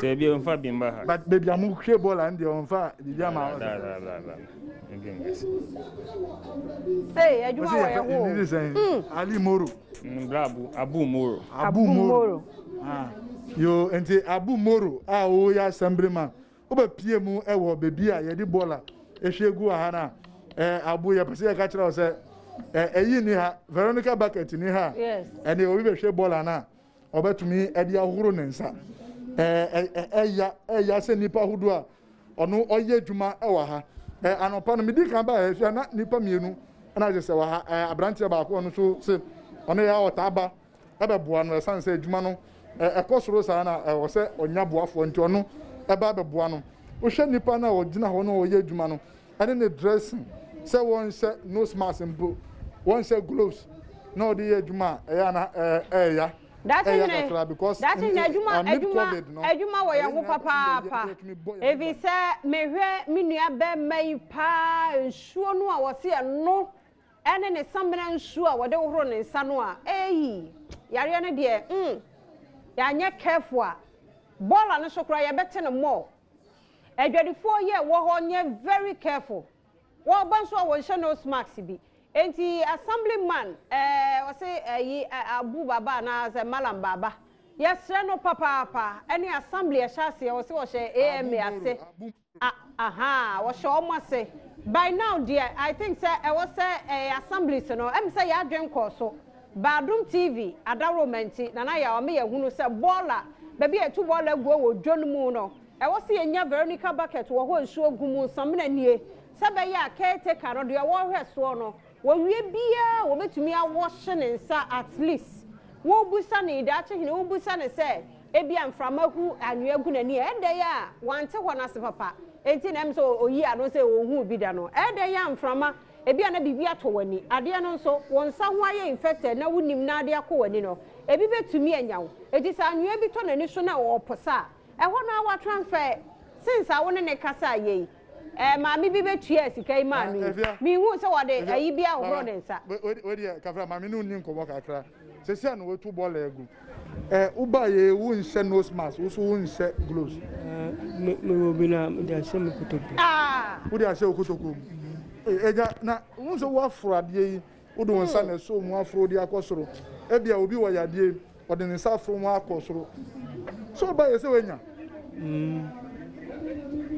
Sɛ bi ɔmfa bi mba ha. But baby a mo hwɛ bɔɔl a ɛndeɛ ɔmfa biribi ama hɔ da. Hey, adwuma wɔ yɛ hoo. Ndidi sɛn? Hmm. Ali Moro. Mbra abu, abu Moro. Abu Moro. Ah. Yo, nti abu Moro a o yɛ assemblyman. O bɛ pie mu ɛwɔ baby a yɛde bɔɔl a ɛhwɛ gu wɔ ha na. Eh, abu yɛ pɛsɛ yɛ ka kyerɛ wo sɛ eh, ɛyi ni ha, Veronica Bucket ni ha. Yes. Ɛne obi bɛ hwɛ bɔɔl ana. ɔbɛtumi de ahohoro ne nsa. Ɛya ɛya sɛ nnipa ahodoɔ a ɔno ɔyɛ adwuma wɔ ha. Anɔpa no medi kan baa ɛhwɛ na nnipa mmienu na agye sɛ wɔ ha aberanteɛ baako ɔno nso se ɔno yɛ ɔtaa ba ɛbɛboa no ɛsan sɛ adwuma no ɛkɔ soro saa na ɛwɔ sɛ ɔnya boafoɔ nti ɔno ɛba ɛbɛboa no. Wohwɛ nnipa no a ɔgyina hɔ na ɔyɛ adwuma no ɛne ne dressing sɛ wɔnhyɛ nose mask mpo, wɔnhyɛ gloves na wɔde yɛ adwuma a ɛyɛ ana ɛɛya. Daakye nyina daakye nyina adwuma adwuma adwuma wɔ yɛn ho papaapa efi sɛ mehwɛ me nua bɛrima yi paa nsuo no a wɔsi ɛno ɛne ne samina nsuo a wɔde hohoro ne nsa no a eyi yareɛ no deɛ mm yɛanyɛ careful a bɔɔla no so koraa yɛbɛte no mɔɔ. Adwadifoɔ yɛ wɔ hɔ nyɛ very careful wɔ ba nso a wɔ nhyɛ nose mask bi enti assembly man ɛɛ ɔse ɛyi Abu Baba anaa sɛ Malam Baba yɛsrɛ no papaapa ɛne assembly ɛhyɛ aseɛ ɔse ɔhyɛ AMA ase a ahaa ɔhyɛ ɔmo ase by now deɛ I think sɛ ɛwɔ sɛ ɛɛ assemblies no ɛm sɛ yɛ adwen kɔɔ so. Badum TV adaworoma nti, Nana Yaw ama yɛahunu sɛ bɔɔla, baabi a yɛto bɔɔla gu wɔ dwa no mu no, ɛwɔ sɛ yɛnya Veronica bucket wɔ hɔ a nsuo gu mu. Samina nie, sɛ ɛbɛyɛ a caretaker no, deɛ ɔrehwɛ soɔ no, wɔwie biara wɔbɛtumi awɔhye ne nsa at least. Wobisa no yi, daakye hene, wobisa no sɛ ebia mframa hu anwea gu n'ani a, ɛdɛn a wante hɔ no ase papa, enti na ɛm sɛ ɔyi ano sɛ ɔnhuu bi da no, ɛdɛn a mframa Ebia na biribi atɔ w'ani. Adeɛ no nso, wo nsa ho ayɛ infected na wonim na adeɛ akɔ w'ani no, ebi bɛtumi anya wo. Enti sɛ anwea bi tɔ n'ani so na ɔreposa a, ɛhɔ no ara watransfer ɛ. Since a wo ne no kasaa yɛ yi, ɛɛ, maame bi bɛtuaa sika yi maa no yi, menhuu sɛ ɔde ayi bi ahohoro ne nsa. Wo deɛ, Kafra, maame no nni nkɔmmɔ kakra. Sɛsɛ na watu bɔɔla agu. Ɛ wo ba yɛ wo nhyɛ nose mask wo so wo nhyɛ gloves. Ɛ me wɔ bi na de ahyɛ me kotokuo. Ah! Wo de ahyɛ wo kotokuo mu. Ɛgya na wo nso wo aforo adeɛ yi wo de wo nsa na ɛsɔ mu aforo de akɔ soro. Ɛbi a obi wɔ yadeɛ yi ɔde ne nsa aforo ho akɔ soro. So wo ba yɛ sɛ wanya? Mm.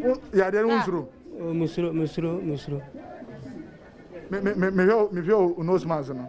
Wo yadeɛ no wo nsoro? Oh, me soro, me soro, me soro. Me me me me hwɛ o nose mask no.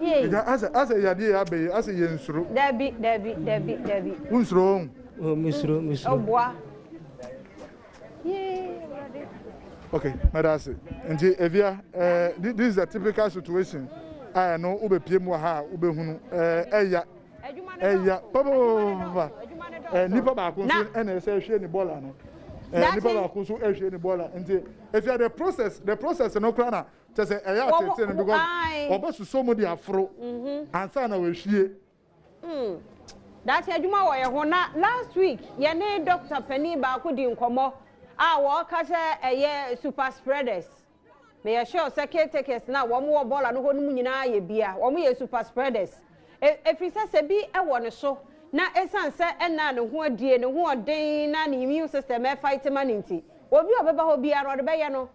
Yei. Agya, asɛ, asɛ yadeɛ yi aba yi, asɛ yɛnsuro. Dabi, dabi, dabi, dabi. Wonsuro wɔn? Oh, mesuro, mesuro. Ɔboa. Yee, Awurade. Okay, mɛda ase. Nti, Evia, eh, this is a typical situation. Ah, ɛno, wobɛpie mu wɔ ha a, wobɛhunu. Eh, ɛya. Ɛya. Papa, eh, nipa baako nso ɛna ɛsɛ ɛhwie ne bɔɔla no. Eh, nipa baako nso ɛhwie ne bɔɔla. Nti, Evia, the process, the process no koraa na Kyɛ sɛ ɛyɛ a tete no because ɔbɛsosɔ mu de aforo ansa na wahwie. Hmm. Daakye adwuma wɔ yɛn ho na last week yɛne doctor panin baako di nkɔmmɔ a wɔka sɛ ɛyɛ super spreaders. Meyɛ sure sɛ caretakers na wɔn wɔ bɔɔla no hɔ no mu nyinaa yɛ bia. Wɔn yɛ super spreaders. Ɛfiri sɛ sɛ bi wɔ ne so na ɛsiane sɛ ɛnna ne ho adie, ne ho ɔden na ne immune system ɛfight ma no nti, obi a ɔbɛba hɔ biara no ɔde bɛyɛ no.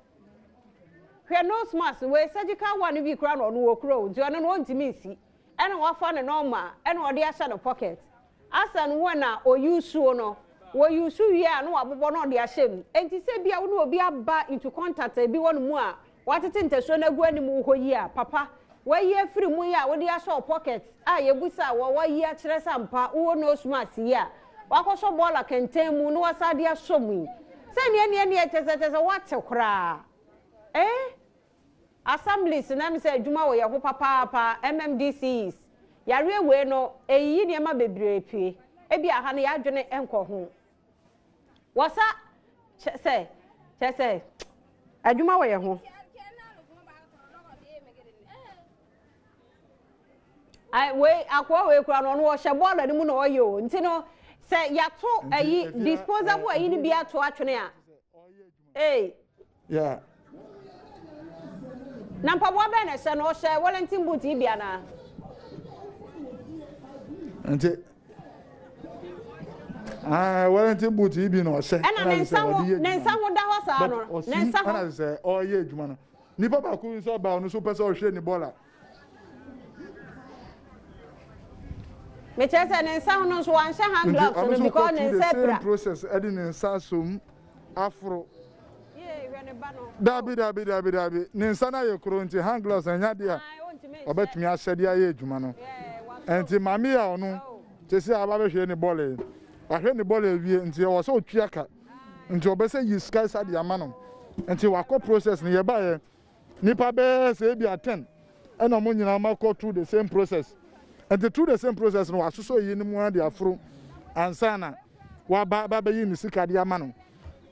Hwɛ nose mask wei surgical one bi kura na ɔno wɔ kura o nti ɔno no ɔntumi nsi ɛna wafa ne nɔɔma ɛna ɔde ahyɛ ne pocket asa no wɔn na ɔyi suo no wɔ yi su wie a na wabobɔ na ɔde ahyɛ mu nti sɛ bi a wɔn obi aba into contact ebi wɔ ne mu a watete ntasuo no agu anim wɔ hɔ yi a papa wayi afiri mu yi a wɔde ahyɛ wɔ pocket a yɛbu sa wɔ wayi akyerɛ sɛ ampa wɔ nose mask yi a Wakɔsɔ bɔɔla kɛntɛn mu na wasan de asɔ mu yi. Sɛ nea nea nea kyɛ sɛ kyɛ sɛ wate koraa. Eh? Assemblies na ɛm sɛ adwuma wɔ yɛ ho papaapa, MMDCs. Yareɛ wei no, ɛyiyi nneɛma bebree pue. Ebi a ha no yɛadwene nkɔ ho. Wɔsa kyɛ sɛ kyɛ sɛ adwuma wɔ yɛ ho. Ai wei akoa wei kura no ɔno ɔhyɛ bɔɔl anim na ɔyɛ o nti no sɛ yato ayi disposable ayi no bi ato atwene a ee. Yeah. Na mpaboa bɛn na ɛhyɛ no ɔhyɛ Wellington boot yi bi anaa. Nti ah Wellington boot yi bi na ɔhyɛ ɛna ne nsa ho ne nsa ho da hɔ saa no ne nsa ho ɛna sɛ ɔyɛ adwuma no Nipa baako nsa baa ɔno so pɛ sɛ ɔhwɛ ne bɔɔla. Mekyerɛ sɛ ne nsa ho no nso wanhyɛ hand gloves no because ne nsa apira. Nti ɔno nso ɔkɔ through the same process ɛde ne nsa asɔ mu aforo. Daabi daabi daabi daabi ne nsa no ayɛ koro nti hand gloves no ɛnyɛ adeɛ a ɔbɛtumi ahyɛ de ayɛ adwuma no. Nti maame yi a ɔno sɛsɛ aba abɛhwɛ ne bɔɔla yi, wahwɛ ne bɔɔla awie nti ɔwɔ sɛ ɔtua ka. Nti wɔbɛsɛ yi sika sa de ama no nti wakɔ process no yɛbaeɛ nipa bɛɛ sɛ ebia ten ɛna wɔn nyinaa ma kɔ through the same process nti through the same process no wasosɔ yi no mu ara de aforo ansa na waba abɛyi ne sika de ama no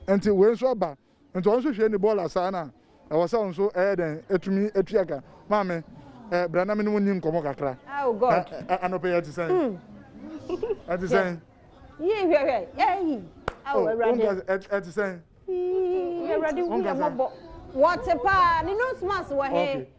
nti wei nso aba nti wɔn nso hwɛ ne bɔɔla saa na Ɛwɔ sɛ wo nso ɛyɛ dɛn atumi atua ka? Maame, eh, bra na me ne wo nni nkɔmmɔ kakra. Oh, God. Eh, eh, eh, anɔpa yi ɛte sɛn? Mm. Ɛte sɛn? Yii, hwɛ, hwɛ, yɛyi. Awo, oh, Awurade. Wonka sɛ, eh, ɛte sɛn? Yii, Awurade, hu yɛ mmɔbɔ. Wɔte paa, ne nose mask wɔ he? Okay.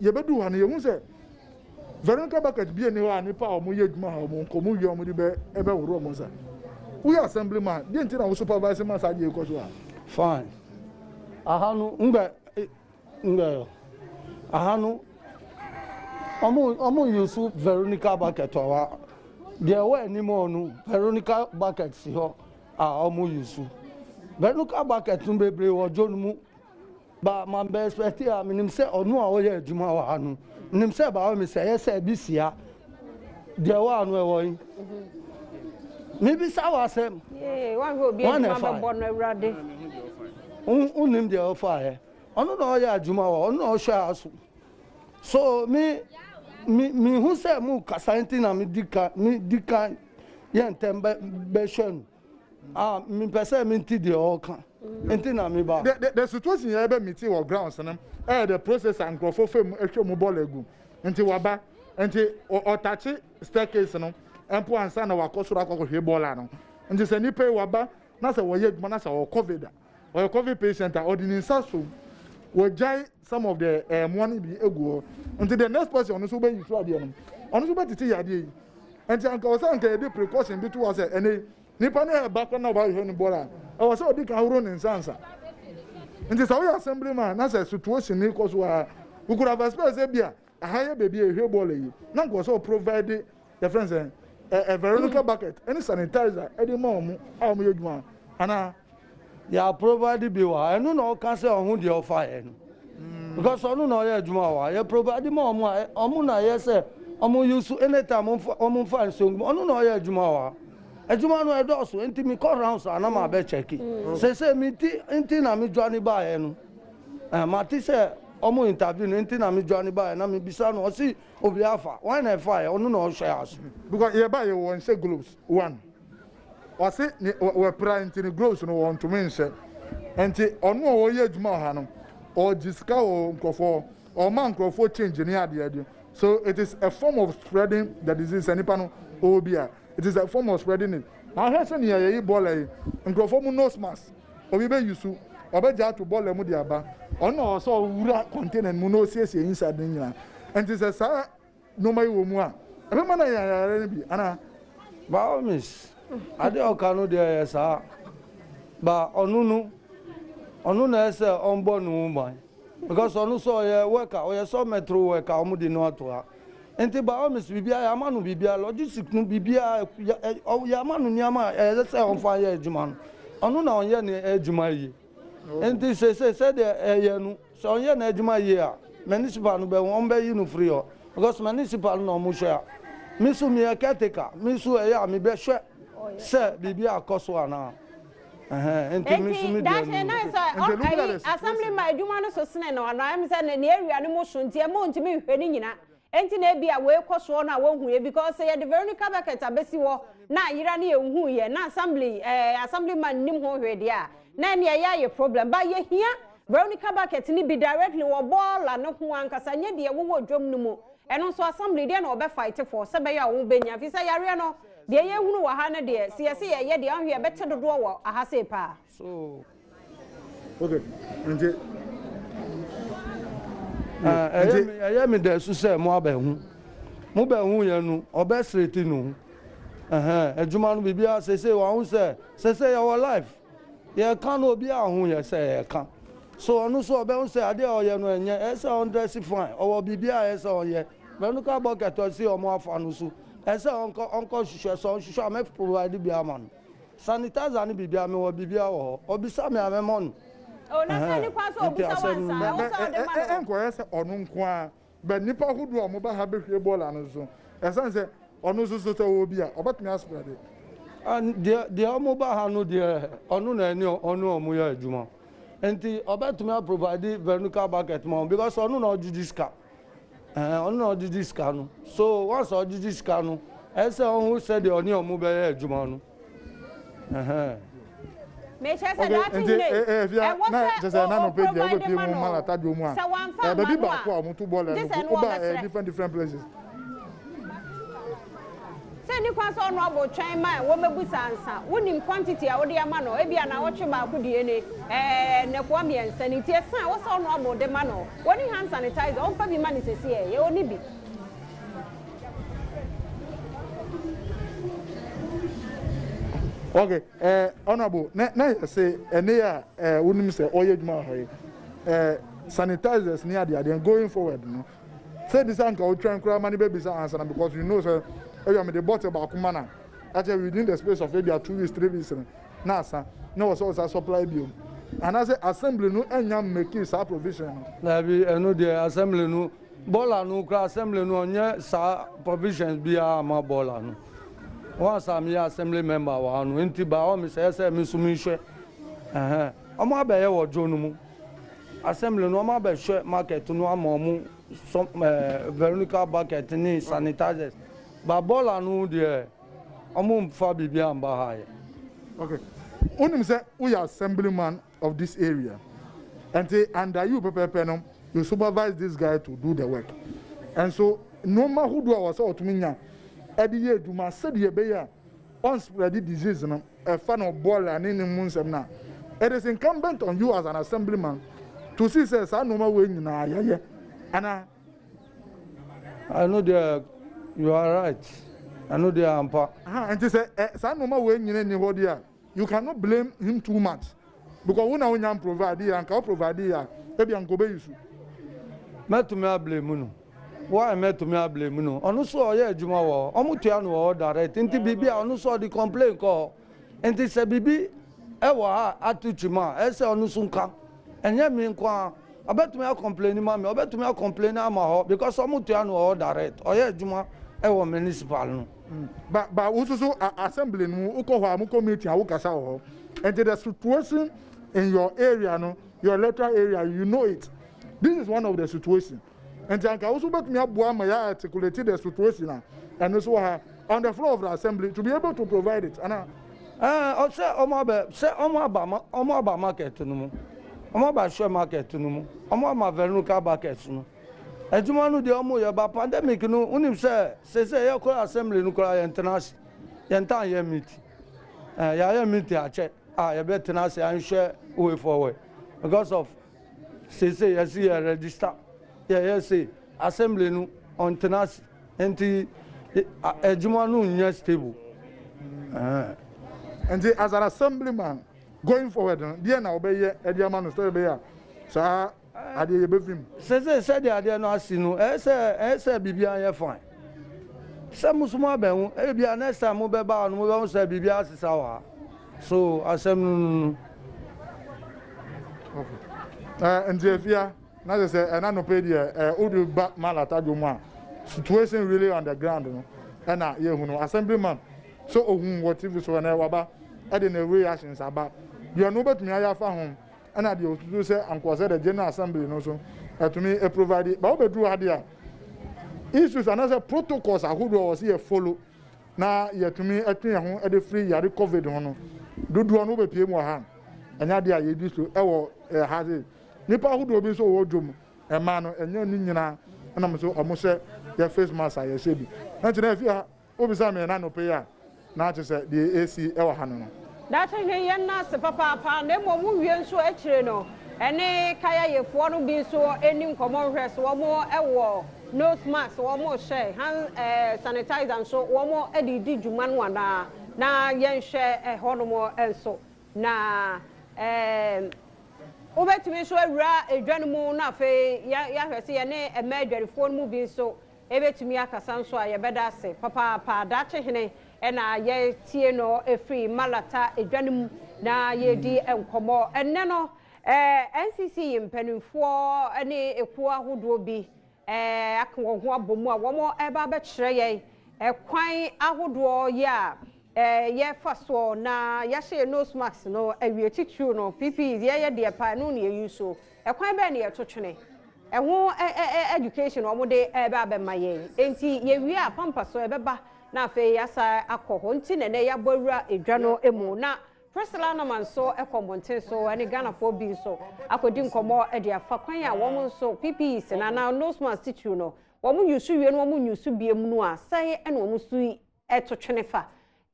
Yɛbɛduu ha no, yɛhu sɛ Veronica bucket bia nni hɔ a nnipa a wɔyɛ adwuma ha wɔn nkɔ, wɔn wie a wɔde bɛhohoro wɔn nsa. Woyɛ assembly man, deɛ nti na wo supervise ma saa adeɛ yi kɔ so ha? Fine. Aha no, ngbɛ, ngbɛ, aha no, wɔn use Veronica bucket wɔ ha. Deɛ ɛwɔ anim hɔ no, Veronica bucket si hɔ a wɔn use. Veronica bucket no bebree wɔ dwo no mu. Ba man bɛ expect a me nim sɛ ɔno a ɔyɛ adwuma wɔ ha no nim sɛ ba wɔ me sɛ ɛyɛ sɛ ebi sia deɛ wɔ ano ɛwɔ yi me bisa wɔ asɛm wɔn na ɛfa wo nim deɛ ɔfa yɛ ɔno na ɔyɛ adwuma wɔ ɔno na ɔhwɛ ha so so me me me hu sɛ mu kasa nti na me di ka me di ka yɛ ntɛm bɛ bɛhwɛ no. Ah, mepɛ sɛ mente deɛ ɔreka nti na meba. The, the, the situation yɛ bɛ miti wɔ grounds no ɛyɛ eh, the process a nkurɔfoɔ fam ɛhwɛ mu bɔɔl agu nti waba nti ɔtakye staircase no mpo ansa na wakɔ soro akɔkɔhwɛ bɔɔla no nti sɛ nipa yi waba na sɛ wɔyɛ adwuma na sɛ ɔwɔ covid a ɔyɛ covid patient a ɔde ne nsa so wɔgyae some of the eh, mmoa no bi egu hɔ nti the next person ɔno nso bɛyi so adeɛ no ɔno nso bɛtete yɛ adeɛ yi nti anka ɔsɛ anka yɛde precaution bi to hɔ sɛ ɛnɛ nipa no ɛba kɔ na ɔbɛhwɛ no bɔra a ɛwɔ sɛ ɔde ka ahoro ne nsa nsa nti sɛ woyɛ assembly man na sɛ situation no kɔ so a wokura vaspɛ sɛ bia Aha yɛ baabi a yɛhwie bɔɔla yi. Na nka ɔwɔ sɛ ɔprovide yɛfrɛ no sɛ ɛ veronica bucket ɛne sanitizer ɛde ma wɔn a wɔn yɛ adwuma anaa. Yɛ aprovide bi wɔ ha ɛno na ɔka sɛ ɔho deɛ ɔfa yɛ no because ɔno na ɔyɛ adwuma wɔ ha yɛ provide ma wɔn a wɔn na yɛ sɛ wɔn use anytime wɔn fa wɔn fa nsongu ɔno na ɔyɛ adwuma wɔ ha adwuma no ɛdɔɔso nti mi kɔ rounds a na ma bɛ check sese mi ti nti na mi dwa ne ba yɛ no. Eh mate sɛ ɔmo interview no nti na me dwane baeɛ na me bisa no ɔse obia afa, wan na ɛfaeɛ ɔno na ɔhwɛ aso. Because yɛ baeɛ wɔ nhyɛ gloves one ɔse ne wɔ pira nti no gloves no wɔ ntome nhyɛ nti ɔno a ɔyɛ adwuma wɔ ha no ɔgye sika wɔ nkorɔfoɔ hɔ ɔma nkorɔfoɔ change ne adeɛ adeɛ so it is a form of spreading the disease sɛ nipa no ɔwɔ bi a it is a form of spreading it ahwɛ sɛ nea yɛyi bɔɔla yi nkorɔfoɔ mu nose mask Obi bɛ yusu, ɔbɛ gya ato bɔlɛ mu de aba. Ɔno na ɔwɔ sɛ ɔwura kɔntena no mu na ɔsiesie inside no nyinaa. Ɛnti sɛ saa nnoɔma yi wɔ mu a, ɛbɛ ma no anya yareɛ no bi anaa? By all means, adeɛ a ɔka no deɛ ɛyɛ saa, but ɔno no, ɔno na ɛyɛ sɛ ɔnbɔ ne ho ban because ɔno nso ɔyɛ worker, ɔyɛ sɔ mɛtro worker a wɔn de no ato ha. Nti by all means biribiara yɛ ama no biribiara logistic no biribiara yɛ ama no nneɛma a ɛyɛ sɛ ɔnfa yɛ adwuma no ɔno na ɔnyɛ ne adwuma yie nti sese sɛdeɛ ɛyɛ no sɛ ɔnyɛ n'adwuma yie a municipal no bɛ wɔn bɛyi no firi hɔ because municipal no na wɔn hwɛ a me so meyɛ caretaker me so ɛyɛ a mebɛhwɛ sɛ biribi akɔ so anaa. Enti daakye na sɛ ayi assembly ma adwuma no so sene no anaa ɛm sɛ ne area no mu so nti ɛma ɔntumi nhwɛ ne nyina enti na ebi a wɔrekɔ soɔ no a wɔnhuiɛ because sɛ yɛde Veronica Beckett abɛsi hɔ na ayera no yɛnhuiɛ na assembly ɛɛ assembly man nim ho hwee deɛ a na ɛne ɛyɛ ayɛ problem ba yɛhia Veronica Beckett no bi directly wɔ bɔɔla no ho ankasa nyɛ deɛ wowɔ dwam no mu ɛno nso assembly deɛ na wɔbɛ fight for sɛ bɛyɛ a wɔbɛnya fi sɛ yareɛ no Deɛ yɛrehunu wɔ ha no deɛ, sɛ yɛse yɛyɛ deɛ a, ɔnhwɛ yɛbɛte dodoɔ wɔ aha sei paa. Ɛyɛ me dɛ so sɛ moabɛhu. Mobɛhu yɛ no, ɔbɛsrete ne ho. Ɛhɛn, adwuma no biribiara seesei wahu sɛ, seesei yɛwɔ live. Yɛreka no obiara ahu yɛ sɛ yɛreka. So ɔno nso ɔbɛhu sɛ adeɛ a ɔyɛ no ɛnyɛ, ɛyɛ sɛ ɔndrɛse fine, ɔwɔ biribiara a ɛyɛ sɛ ɔyɛ. Mɛnuka bucket ɔse wɔafa no so. Ɛsɛ ɔnkɔ ɔnkɔ hwehwɛ sɛ ɔnhwehwɛ a mɛ provide bi ama no sanitizer ne biribiara mewɔ biribiara wɔ hɔ ɔbisa me a mɛ mɔ no ɛhɛn nti asɛm no ni. Ɛ ɛ nkɔyɛ sɛ ɔno nko ara but nipa hodoɔ a ɔmo ba ha bɛhwie Ebola no nso ɛsane sɛ ɔno nso so sɛ ɔwɔ bi a ɔbɛtumi a spreade. An deɛ deɛ ɔmo ba ha no deɛ ɔno na ɛne ɔne ɔmo yɛ adwuma nti ɔbɛtumi a provide vernucal bucket ma ɔmo because ɔno na ɔgyegye sika Ɛɛ, ɔno na ɔgyegye sika no. So once ɔgyegye sika no, ɛsɛ sɛ ɔhu sɛdeɛ ɔne wɔn bɛyɛ adwuma no. Ɛhɛn. Mekyerɛ sɛ Okay, daakye nti nnɛ eh, eh, fia ɛwɔ na sɛ kyerɛ sɛ na o- nɔpɛ deɛ o-provide wobɛpie ma mu no. ma lata dwom mu a Sɛ wamfa eh, amma baabi no baako a a, wɔto bɔɔlɛ gye no sɛ ɛno woba eh, ɔbɛsrɛ. different different places. Sɛ nni kwan sɛ ɔno abɔ twɛn ma wɔmmɛbisa ansa. Wonim quantity a wode ama no, ebia naawɔtwe baako deɛ ni, ɛɛ, nnɛkoa mmiɛnsa ni, nti ɛsɛ a wosɛ ɔno abɔ de ma no. Wɔnni hand sanitizer, ɔmfa bi mma no sesieɛ, yɛ ɔnni bi. Okay, eh, honorable, na na yɛ se ɛne a eh, wonim sɛ ɔyɛ adwuma wɔ ha yi eh, sanitizers ne adeadeɛ going forward no Sɛ ebi sɛ anka otwɛn koraa ma ne bebisa ansa na because you know sɛ ebia mede bottle baako ma na akyɛ within the space of ebia two weeks three weeks no na asa na wɔ sɛ ɔsa supply bio anaasɛ assembly no anya mmeki saa provision no. Daabi ɛno deɛ assembly no bɔɔla no koraa assembly no ɔnyɛ saa provisions biara ama bɔɔla no wɔn asa meyɛ assembly member wɔ ha no nti by all means ɛyɛ sɛ me nso menhwɛ ɛhɛn wɔn abɛyɛ wɔ dwo no mu. Assembly no wɔabɛhwɛ market no ama wɔn sɔm ɛɛ Veronica bucket ne sanitizers but bɔɔla no deɛ wɔnfa biribi amba ha yɛ. Okay wonim sɛ woyɛ assembly man of this area ɛnti under you pɛpɛɛpɛ no you supervise this guy to do the work ɛnso nnoɔma hodoɔ a wɔsɛ wɔtumi nya ɛde yɛ adwuma sɛdeɛ ɛbɛyɛ a Ɔn spreadi disease no ɛfa no bɔɔla ne ne mu nsɛm no a, it is incumbent on you as an assemblyman to see sɛ saa nnoɔma wei nyinaa yɛyɛ anaa? Ɛno deɛ you are right, ɛno deɛ ampa. Ahaa, nti sɛ ɛ, saa nnoɔma wei nyina nni hɔ deɛ a, you can not blame him too much because wo na wonnya mprovideeɛ, anka wo provideeɛ a, ebia anka ɔbɛyi so. Mɛtumi a blame no. Why mɛ tumi a blame no ɔno so ɔyɛ adwuma wɔ hɔ ɔmo tua no wɔ hɔ direct nti biribi a ɔno so ɔde complain kɔ hɔ nti sɛ biribi ɛwɔ ha ato kyim a ɛsɛ ɔno so nka ɛnyɛ me nko ara ɔbɛtumi a complain ma me ɔbɛtumi a complain ama hɔ because ɔmo tua no wɔ hɔ direct ɔyɛ adwuma ɛwɔ municipal no. Mm. Ba ba wo nso so assembly no wokɔ hɔ a mo committee a wokasa wɔ hɔ nti the situation in your area no your electoral area you know it this is one of the situation Nti anka wo nso wobɛtumi aboa ma yɛ articulate the situation a ɛno nso wɔ ha on the floor of the assembly to be able to provide it ana. Ɛɛ ɔsɛ ɔmo abɛ sɛ ɔmo aba ma ɔmo aba market no mu ɔmo aba share market no mu ɔmo ama vernuka buckets no adwuma no deɛ ɔmo yɛ ba pandemic no wonim sɛ sese yɛ kora assembly no kora yɛ ntena ase yɛ ntan yɛ meet ɛɛ yɛ ayɛ meet akyɛ a yɛ bɛ tena ase anhwɛ way forward because of Seesei yɛasi yɛn rɛgyista. Yɛyɛ se assembly no ɔntena ase nti adwuma no nyɛ stable. Nti as an assemblyman going forward no deɛn na wobɛyɛ de ama no sɛdeɛ ɛbɛyɛ a saa adeɛ yi ɛbɛfi mu? Seesei sɛdeɛ adeɛ no asi no ɛyɛ sɛ ɛyɛ sɛ biribiara yɛ fine. Sɛ mo nso moabɛhu, ebia next time mobɛba ha no mobɛhu sɛ biribiara asesa wɔ ha. So asɛm no no no? Okay. Eh, nti afia, na sɛ sɛ ɛna nɔpɛ deɛ eh, wode ba malata dwom a situation really on the ground no ɛna yɛhu no assemblyman sɛ ohun wɔ tv so ɛnɛ waba ɛde ne reactions aba deɛ no wobɛtumi ayɛ afa ho ɛna deɛ osusu sɛ ankoa sɛ the general assembly no so ɛtumi aprovide ba wobɛduru ha deɛ issues anaasɛ protocols ahodoɔ wɔ sɛ yɛ follow na yɛatumi atwe yɛn ho de firi yare covid ho no dodoɔ no wobɛpie mu wɔ ha ɛnyɛ adeɛ a yɛdi so wɔ ha se nnipa ahodoɔ bi nso wɔ dwom ɛma no ɛnyɛ ne nyinaa ɛnam nso ɔmo hyɛ yɛ face mask a yɛhyɛ bi ɛnti na ɛfi ha wobisa me na nɔpɛ yi a na kyɛ sɛ deɛ ɛsi wɔ ha no no Daakye hwee yɛn nan ase papaapa na mmom wo wie nso akyire no ɛne kayayefoɔ no bi nso ɛni nkɔmmɔ nhwɛ so wɔn wɔ Nose mask wɔn hyɛ, hand eh, sanitizer nso wɔn de redi dwuma no anaa? Na yɛnhwɛ ɛhɔ nom nso. Na eh, wobɛtumi nso awura edwa no mu na afei yɛahwɛ sɛ yɛne mmaa adwarifoɔ no mu bi nso ɛbɛtumi akasa nso a yɛbɛda ase papaapa. Daakye hene na yɛtie no ɛfiri Malata edwa no mu na yɛredi nkɔmmɔ ɛnnɛ no. Ɛɛ NCC mpaninfoɔ ne ekuo ahodoɔ bi ɛɛ aka wɔn ho abɔ mu a wɔn ɛɛba abɛkyerɛ yɛn ɛkwan ahodoɔ yi a ɛɛ yɛɛfa soɔ na yɛahyɛ yɛn nose mask no awie titiriw no PP yɛɛyɛ deɛ paa ɛno na yɛyi so ɛkwan bɛɛ na yɛto twene ɛho ɛɛ education wɔn de ɛɛba abɛma yɛn enti yɛwie a pampa so ɛbɛba na afei yɛasa akɔ hɔ nti na ɛnɛ yɛabɔ awura edwa no mu na Priscilla Norman nso kɔ mmɔnten so ne Ghanafoɔ bi nso akɔdi nkɔmmɔ de afa kwan a wɔn nso PPEs no anaa nose mask titiriw no wɔn yusu wie no wɔn nyusu bie mu no a sɛn na wɔn nso yi to twene fa.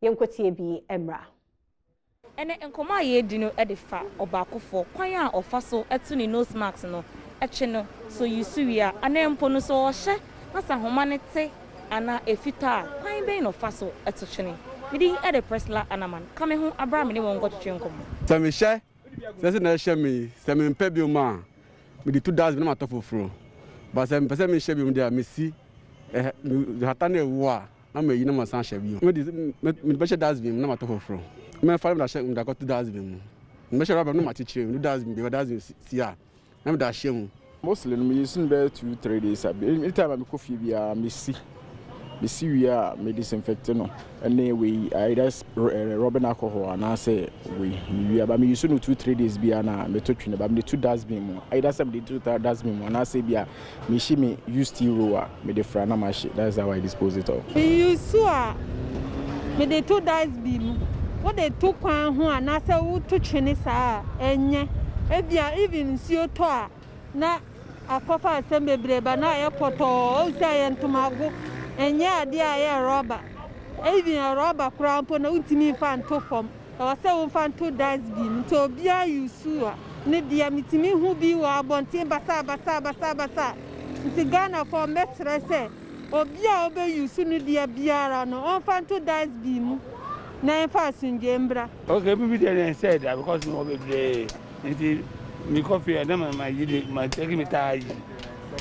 Yɛnkɔtie bi mmra. Ɛnɛ nkɔmmɔ a yɛredi no de fa ɔbaakofoɔ kwan a ɔfa so to ne nose mask no twe no, sɛ ɔyi so wie a anaa mpo no sɛ ɔhyɛ na sɛ ahoma no te. anaa ɛfitaa a, kwan bɛn na ɔfa so to twene? Me din de Priscilla Annaman. Ka me ho bere a me ne wo nkɔtwetwe nkɔmmɔ. Sɛ mehyɛ sɛ sɛnea ɛhyɛ me yi, sɛ mempɛ bio a, mede tu dustbin na matɔ foforo. But sɛ mepɛ sɛ mehyɛ bio de a, mesi hata na ɛwo a, na mayi na masan ahyɛ bio. Mede mede bɛhyɛ dustbin mu na matɔ foforo. Mɛfa na mede akɔto dustbin mu. Mede bɛhyɛ rubber mu na makyekyere mu. Mede dustbin baabi a dustbin si a, na meda ahyia mu. Mostly no meyɛ su no bɛyɛ two three days a any time a mekɔ fie biara mesi mesi wie a me disinfect no ɛne wei either eh, rubbing alcohol anaasɛ wei mewie a ba meyɛ su no two three days biara na meto twene ba mede to dustbin mu either sɛ mede to dustbin mu anaasɛ bi a Me hye me use tea roll a me de fra na ma hye that is how I dispose it all. Me use a me de to dice bi mu. Wo de to kwan ho anaa sɛ wo to twene saa a ɛnyɛ. Ebia even nsuo tɔ a na akɔ fa asɛm bebree ba na ayɛ pɔtɔɔ ohu sɛ ɛyɛ ntomago ɛnyɛ adeɛ a ɛyɛ rubber even rubber koraa mpo no wo ntumi nfa nto fam. Ɛwɔ sɛ wofa nto dust bin mu nti obia use a ne dea metumi hu bi wɔ abɔnten basaa basaa basaa basaa nti Ghanafoɔ mɛsrɛ sɛ obia ɔbɛ use ne dea biara no ɔnfa nto dust bin mu na ɛnfa asomdwoeɛ mbra. Okay me video no ɛnsɛe da because mewɔ bebree nti mekɔ fie a na mayi de ma take me taa yi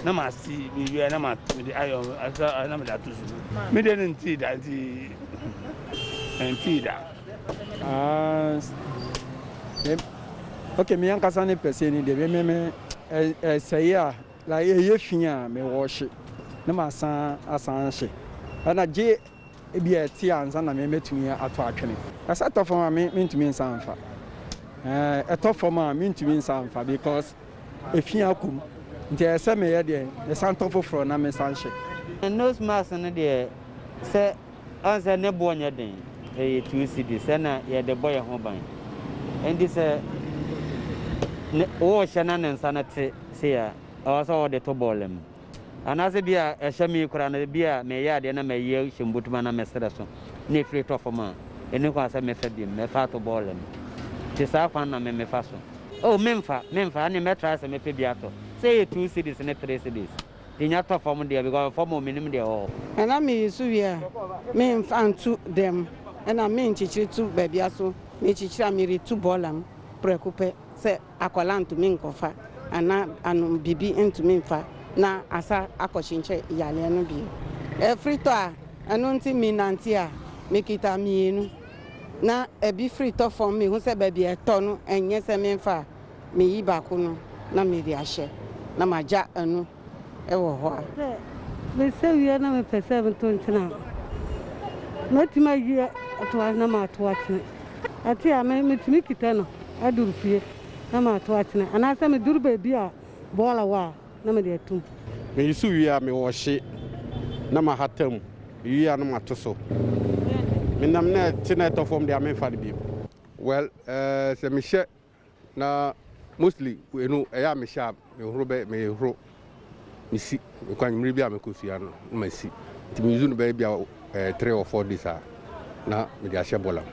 na ma si me wie na ma mede ayɔ asa na mede ato so me de no ntii da nti ɛntii da. Ok me ankasa ne pɛsɛ ni deɛ me me ɛsɛe a like ɛyɛ fi a me wɔhye na masan asan hye ɛna gye ebi a ɛte ansa na me mɛtumi ato atwene ɛsɛ ɛtɔ fam a me mentumi nsa mfa ɛtɔ fam a mentumi nsa mfa because efi akum nti ɛsɛ meyɛ deɛ ɛsan tɔ foforɔ na mesan hye nose mask no deɛ sɛ Ɔn sɛ ne boɔ nyɛ den, ɛyɛ two cedis sɛ na yɛde bɔ yɛn ho ban. Ɛnti sɛ ne worehyɛ na ne nsa no te sei a, ɛwɔ sɛ wode to bɔɔla mu. Anaasɛ bi a ɛhyɛ me yi koraa no, bi a mereyɛ adeɛ na mayi ahyɛ me bottom anaa me serɛ so na ɛfiri tɔ fam a, ɛnni kwan sɛ mɛfa biom, mɛfa ato bɔɔla mu. Nti saa kwan no na me mefa so. Oh, memfa, memfa, ɛnneɛ mɛtry sɛ mɛpɛ bi atɔ. Sɛ ɛyɛ two cedis ne three cedis. Nya tɔ fam deɛ because fam hɔ menim deɛ ɛwɔ hɔ. Ɛna meyi so wie a me nfa ntu dɛm ɛna me nkyekyere tu baabia so me kyekyere a me retu bɔɔla mu prɛko pɛ sɛ akwadaa ntumi nkɔfa ana anom bibi ntumi nfa na asa akɔ kyenkyɛ yareɛ no bio ɛfiri tɔ a ɛno nti me nante a me kita mmienu na ɛbi firi tɔ fam me hu sɛ baabi ɛtɔ no ɛnyɛ sɛ me nfa a. Meyi baako no na mede ahyɛ na magya ɛno wɔ hɔ a. Sɛ mesa wie na mepɛ sɛ meto nkyene a, mɛtumi ayi ato ase na mato akyene. Ɛte a, metumi kita no aduru fie na mato akyene anaasɛ meduru baabi a bɔɔla wɔ a na mede atom. Meyi so wie a, mewɔhye na mahata mu wie a na mato so. Menam na ɛte na ɛtɔ fam deɛ a, memfa no bio. Well, eh, sɛ mehyɛ. Na mostly eno ɛyɛ a mehyɛ a mehoro bɛ mehoro mesi mekɔ anwummere bi a mekɔsua no na masi nti me use no bɛyɛ bi a eh, three or four days a na mede ahyɛ bɔlam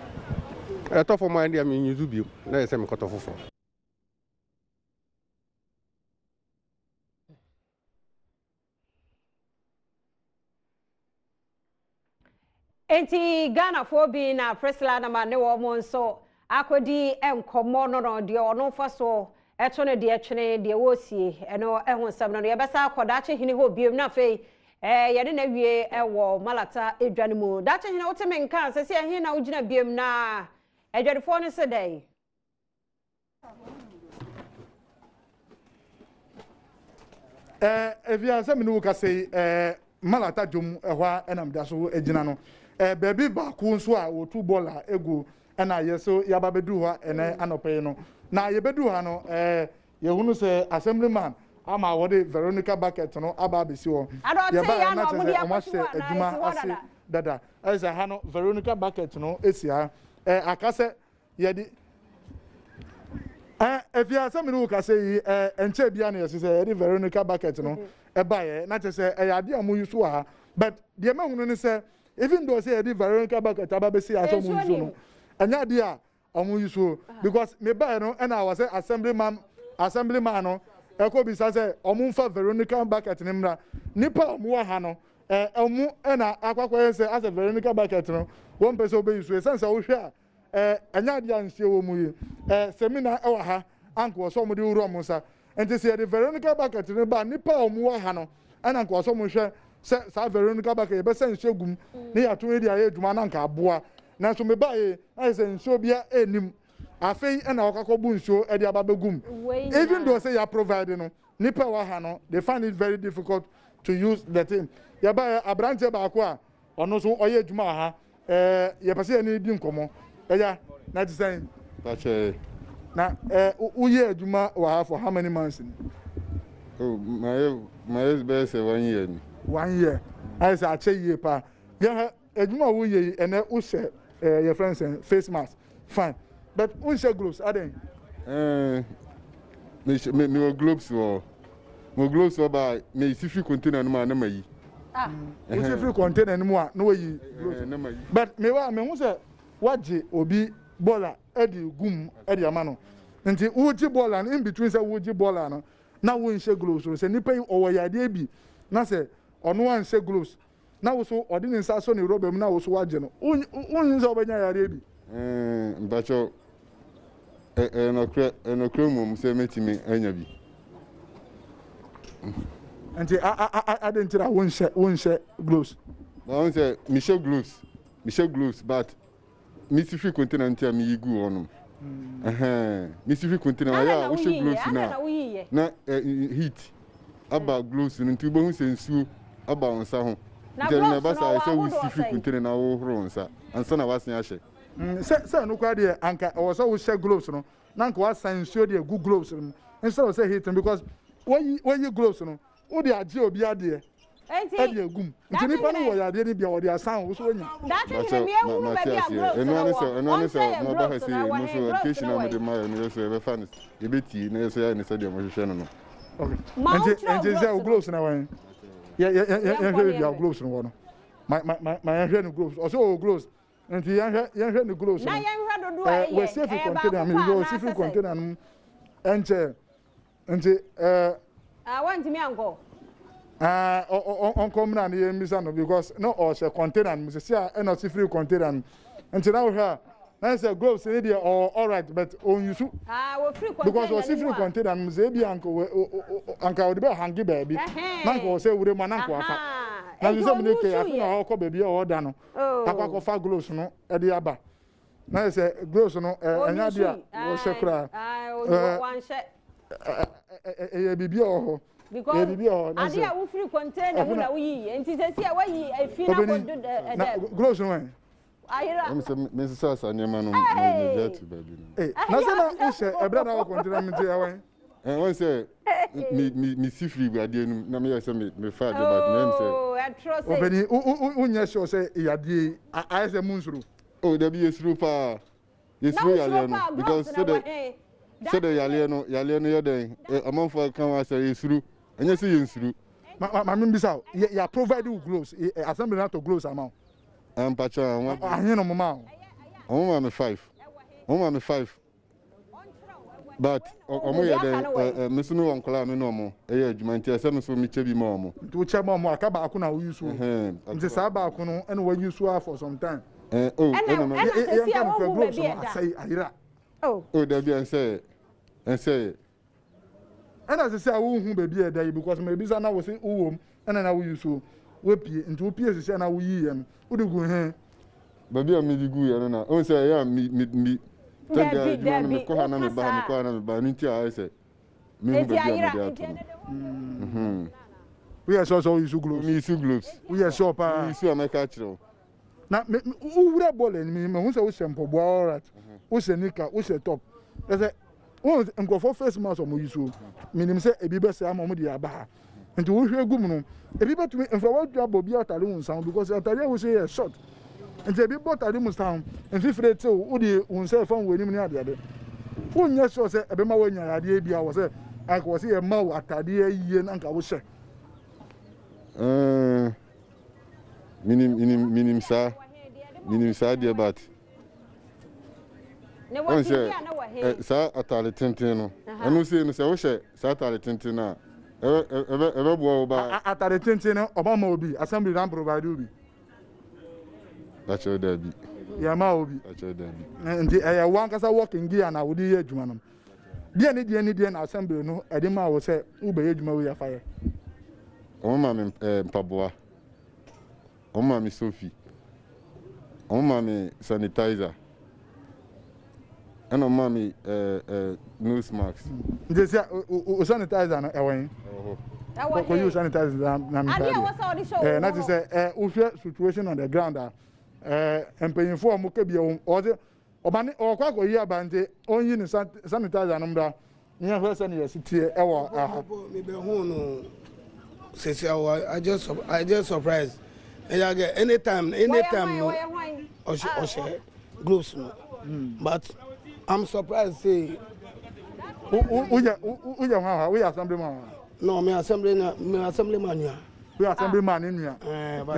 ɛtɔ fam a ɛndeɛ me use biom na ɛsɛ mekɔtɔ foforɔ Enti Ghanafoɔ bi na Priscilla na ma ne wɔn nso akɔdi nkɔmmɔ no no deɛ ɔno mfa so ɛto no deɛ twene deɛ wɔresie ɛno ɛho nsɛm no no yɛbɛsa akɔ daakye hene hɔ biom na afei ɛɛ yɛne na wie ɛwɔ malata edwa no mu daakye hene wote me nka sɛ sɛ ɛhe na wogyina biom na adwadifoɔ no se dɛn ɛɛ ebi a sɛ mi ni wo kasa yi ɛɛ malata dwom ɛhɔ a ɛna mi da so gyina no ɛɛ beebi baako nso a wɔtu bɔɔl a egu ɛna yɛ so yaba bɛdu hɔ ɛnɛ anɔpɛ yi no na yɛbɛdu ha no ɛɛ yɛhunu sɛ assemblyman ama wɔde veronica bucket no aba abɛsi hɔ yɛba ɛna kyerɛ sɛ wɔn ahyɛ adwuma ase dada ɛsɛ ha no veronica bucket no esi ha ɛɛ akasɛ. yɛde ɛ efi ase mi ne wo kasa yi ɛ nkyɛn bia na yɛsɛ sɛ yɛde Veronica bucket no ɛbaeɛ na kyɛ sɛ ɛyɛ adeɛ a mo yi so wɔ ha but deɛ mɛhunu ne sɛ even though sɛ yɛde Veronica bucket aba bɛsi asɛ mo yi so no ɛnyɛ adeɛ a ɔmo yi so because me baeɛ no ɛna awɔ sɛ assemblyman assemblyman no ɛkɔ bisa sɛ ɔmo nfa Veronica bucket ne mmra nipa a ɔmo wɔ ha no ɛ ɔmo ɛna akɔakɔyɛ sɛ asɛ Veronica bucket no wɔn mpɛ sɛ ɔbɛyi so ɛsɛn sɛ wohwɛ a Eh, ɛnyɛ adeɛ a nsuo wɔ mu yi. Eh, seminar wɔ ha, anka wɔ sɛ wɔn de wura wɔn nsa. Nti sɛ yɛde Veronica bucket no ba nnipa a wɔn wɔ ha no, ɛna nka wɔ sɛ wɔn hwɛ sɛ saa Veronica bucket yɛbɛsa nsuo egu mu ne yɛato ne de ayɛ adwuma na nka aboa. Nanso mebaeɛ na ayɛ sɛ nsuo biara nnim. Afei ɛna wɔkakɔ bu nsuo de aba bɛgu mu. Even though sɛ yɛ provide no, nnipa a wɔ ha no, they find it very difficult to use the thing. Yɛbaeɛ, aberanteɛ baako a Ɔno nso ɔyɛ adwuma wɔ ha. Ɛɛ, yɛpɛ sɛ yɛne no di nkɔmmɔ. Ɛya, na ɛte sɛn? Fa kyɛ yɛn. Na ɛɛ, woyɛɛ adwuma wɔ ha for how many months ni? Oh, mayɛ, mayɛ bɛyɛ sɛ one year ni. One year? Ayɛ sɛ akyɛ yie paa. Yɛhwɛ, adwuma a woyɛ yi, ɛnnɛ wohyɛ ɛɛ, yɛfrɛ no sɛn, face mask. Fine but wonhyɛ globes adɛn? Ɛɛ eh, me mewɔ globes wɔ mo globes wɔ baa mesi firi container no mu a na mayi. Ah, wosi firi container no mu a na wayi eh, globes. But me wa me ho sɛ wagye obi bɔla ɛde gum ɛde ama no nti wogye bɔla no in between sɛ wogye bɔla no na wonhyɛ globes no sɛ nipa yi ɔwɔ yadeɛ bi na sɛ ɔno anhyɛ globes na wo so ɔde ne nsa asɔ ne rɔba mu na wo so wagye no, wonnwen sɛ wobɛnya yareɛ bi? Mpakyɛw, ɛyɛ nɔkorɛ, ɛyɛ nɔkorɛ mmom sɛ mɛtumi anya bi. Nti adɛn nti na wonhyɛ wonhyɛ gloves? Mahu sɛ mehyɛ gloves, mehyɛ gloves but Me si hwe kuntina nti a me yi gu hɔnom. Ɛhɛn. Me si hwe kuntina ayɛ a wohyɛ gloves no a na heat aba gloves no nti wobɛhu sɛ nsuo aba wo nsa ho. Nti ɛno na ɛba saa yɛ sɛ wosi hwe kuntina na wohohoro wo nsa ansa na w'asen ahyɛ. Sɛ sɛ ɛno koraa deɛ anka ɛwɔ sɛ wohyɛ gloves no na anka wasan nsuo de agu gloves no mu instead of sɛ heat no because woyi woyi gloves no Wode agye obi adeɛ ɛde agu mu nti nipa no wɔ yadeɛ no bi a wɔde asan wo so wanya. Daakye hene mi ewu mu baabi a groves no wɔ ɔnsɛ yɛ groves no awɔ ne groves no wɔ yi. Nti sɛ wo groves no wɔ yi yɛhwɛ baabi a groves no wɔ no ma yɛhwɛ ne groves ɔsɛ ɔwɔ groves nti yɛhwɛ ne groves no wɔ safe container mi wɔ safe container no mu ɛnkyɛ. Nti eh. Ah, wantumi ankɔ. Ah, ɔnkɔ mmira no yɛ mmisa no because na ɔhyɛ container no mu sisi a ɛna ɔsi free container no. Nti na wohwɛ a na sɛ gloves ne deɛ ɔwɔ alright but ɔnyusu. Ah, wɔ free container because ɔsi free container no mu sɛ ebi anka anka ɔde bɛ hangi baabi na nka ɔsɛ wura mu ananka wafa. Na nso sɛ mu ne kɛ afei na ɔkɔ baabi a ɔda no. Akɔ akɔfa gloves no ɛde aba. na yɛ sɛ gloves no ɛnyɛ adeɛ a wɔhyɛ koraa ɛyɛ biribi a wɔ hɔ ɛyɛ biribi a wɔ hɔ adeɛ a wofiri container mu na woyiyi nti sɛ si a wayi efi na kodo dɛ gloves no wɛn ayira mesesa sa nneɛma no megya ti baabi no na sɛ na wohyɛ ɛberɛ na wɔ container mu nti ɛwɛn wɔn sɛ mesi firi adeɛ no na meyɛ sɛ mefa adeɛ baako na ɛm sɛ ɔbɛni wonyɛ sure sɛ yadeɛ ayɛ sɛ mu nsoro Oh dabi yɛsuro paa yɛsuro yaleɛ no because sɛdɛ sɛdɛ yaleɛ no yaleɛ no yɛ dɛn amanfoɔ aka ho asɛ yɛsuro ɛnyɛ sɛ yɛnsuro maame mbisa o yɛ provide wo gloves assembly no atɔ gloves ama wo ampakyɛ ahene no mo ma wo ɔmo ma me five ɔmo ma me five but ɔmo yɛ dɛ ɛ me so me wɔ nkɔla a me ne ɔmo ɛyɛ adwuma nti ɛsɛ me so me kyɛ bi ma ɔmo. nti wo kyɛ ma ɔmo aka baako na wo use o nti saa baako no ɛna wa use a for some time. ɛɛ o ɛna ɛna sɛsi a wɔn hu baabi ɛda asɛyi ayira. o dabi ɛnsɛ yɛ ɛnsɛ yɛ. Ɛna ɛsɛ sɛ wo hu baabi a ɛda yi because ma ebisa na wo se wo wɔ mu ɛna na wo yi so wo pie nti wo pie si sɛ na wo yi yɛ no wo de gu he. Baabi a me de gu yɛ no na ehu sɛ ɛyɛ a me me me tɛ de ayɛ adwuma no me kɔ ha na me ba ha me kɔ ha na me ba ɛno nti a ayɛ sɛ me hu baabi a me de ato no. Woyɛ sure sɛ wo yi so globes? Me yi so globes. Woyɛ sure paa? Me yi so a mɛka akyerɛ wo. na me wowura bɔɔl anim yi mahu sɛ wohyɛ mpɔboa alright wohyɛ nika wohyɛ top ɛsɛ wɔn nkurɔfoɔ face mask wɔn yi so menim sɛ ebi bɛsɛ ama wɔn de aba ha nti wohwɛ gu mu no ebi bɛtumi nfa wɔatumi abɔ bi atare wɔn nsa ho because atare a wohyɛ yɛ short nti ebi bɔ atare mu san mfifire tew wode wɔn nsa ɛfa wɔn anim ne adeade wonyɛ sure sɛ ɛbɛma wɔanya yadeɛ bi a wɔ sɛ anka wɔ sɛ yɛma wo atadeɛ yie na anka wohyɛ mm. Minim minim minim saa minim saa deɛ but wɔn sɛ ɛ saa ataade tenten no ɛno sei no sɛ wohyɛ saa ataade tenten no a ɛbɛ ɛbɛ ɛbɛboa wo baa. Ataade tenten no ɔba ma obi assembly na provide obi. Dakyɛ daabi. Yɛ ma obi. Dakyɛ daabi. Nti ɛyɛ wɔn ankasa working gear na wode yɛ adwuma no. Deɛ ne deɛ ne deɛ na asɛmbere no de maa wo sɛ wobɛyɛ adwuma wei afa yɛ? Wɔn maa me eh, mpaboa, wɔn maa me sofi, wɔn maa me sanitizer, ɛna wɔn maa me eh, eh, nose mask. Nti sɛ o sanitizer no ɛwɔ yen? Ɛwɔ hɔ. Ɛwɔ he? Kɔyi o sanitizer na na mi Adeɛ a ɛwɔ sɛ wɔde hyɛ wɔn Eh, na te hɔ. sɛ eh, wohwɛ situation on the ground a, eh, mpanyinfoɔ a wɔka bi a wɔn wɔdze Ɔba no ɔkɔ akɔyi aba nti ɔnyi ne sanitizer no mmra na yɛnhwɛ sɛnea ɛsi teɛ wɔ ha. Mebɛhuu no sɛsi a I just I just surprised. Ɛyɛ agɛ anytime anytime no ɔhyɛ ɔhyɛ gloves no hmm. but I'm surprised say. Woyɛ woyɛ hwan hwan woyɛ assembly man. No, me assembly na me assembly man nua. Bi asɛm bi maa ne nua.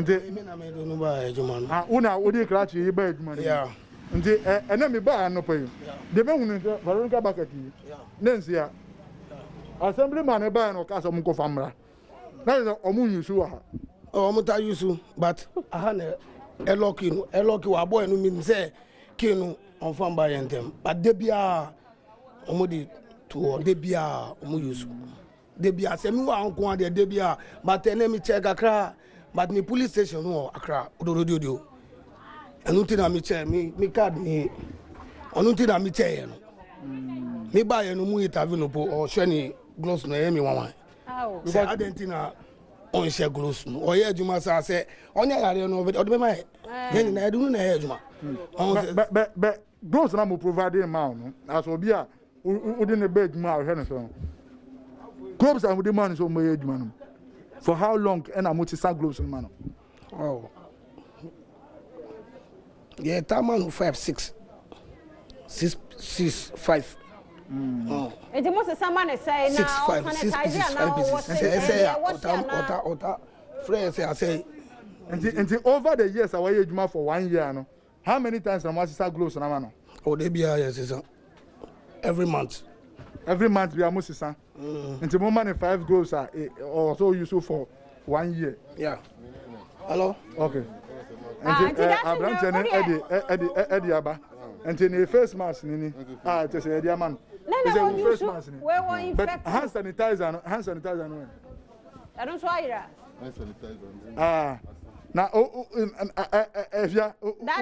Nti me na me de no baa adwuma no. Ah, wo na wode krakye yi baa adwuma no. Yeah. Nti ɛnɛ me baa anɔpa yi. Deɛ me hunu sɛ Veronica Bucket yi ne nsia. Asɛm bi maa ne baa na ɔka sɛ ɔmo nkɔfa mmra. Na yɛ sɛ ɔmo nyusu wɔ ha. Oh, ɔmo ta yusu but aha na ɛlɔ kii no ɛlɔ kii wɔ abɔ ɛnu mi sɛ kii no ɔnfa mba yɛn ntɛm but de biara ɔmo de to hɔ de biara ɔmo yusu. Debia sɛ mewɔ ha nkoa deɛ debia but ɛnɛ mekyɛɛ kakra but me police station no wɔ akra odododiodio ɛno nti na mekyɛɛ me me card ni ɔno nti na mekyɛɛ no me ba yɛ no mu interview no po ɔhwɛ ne gloves no ɛyɛ me wanwan sɛ adɛn nti na ɔnhyɛ gloves no ɔyɛ adwuma saa sɛ ɔnyɛ yareɛ no ɔde bɛma yɛ yɛ nyinaa ɛde no na ɛyɛ adwuma bɛ gloves na mo provide ma no asɛ obi a wode no bɛ adwuma a ɔhwɛ no so no globes a wode ma no sɛ ɔmɛyɛ adwuma no for how long ɛna mo te sa globes no ma no oh. yɛ ta ma no five six six six five nti mo sesa ma ne sɛe na ɔsanitize a na ɔwɔ sɛ ɛsɛ a ɔta ɔta ɔta frɛ sɛ asɛ nti nti over the years a wɔyɛ adwuma for one year no How many times na mo asesa gloves no ama no? Oh da biara yɛ sesa every month. Every month biara mo sesa. Mm. Nti mo ma ne five gloves a e, ɔwɔ sɛ o use for one year. Yeah. Hello. Okay. Ah, nti eh, aberanteɛ no ɛde ɛde ɛde aba nti ne face mask ni ni a ah, kyɛ sɛ ɛde ama no ɛsɛ wo face mask ni but hand sanitizer no hand sanitizer no. Ɛno nso ayera. Ah, na o o ɛhwɛ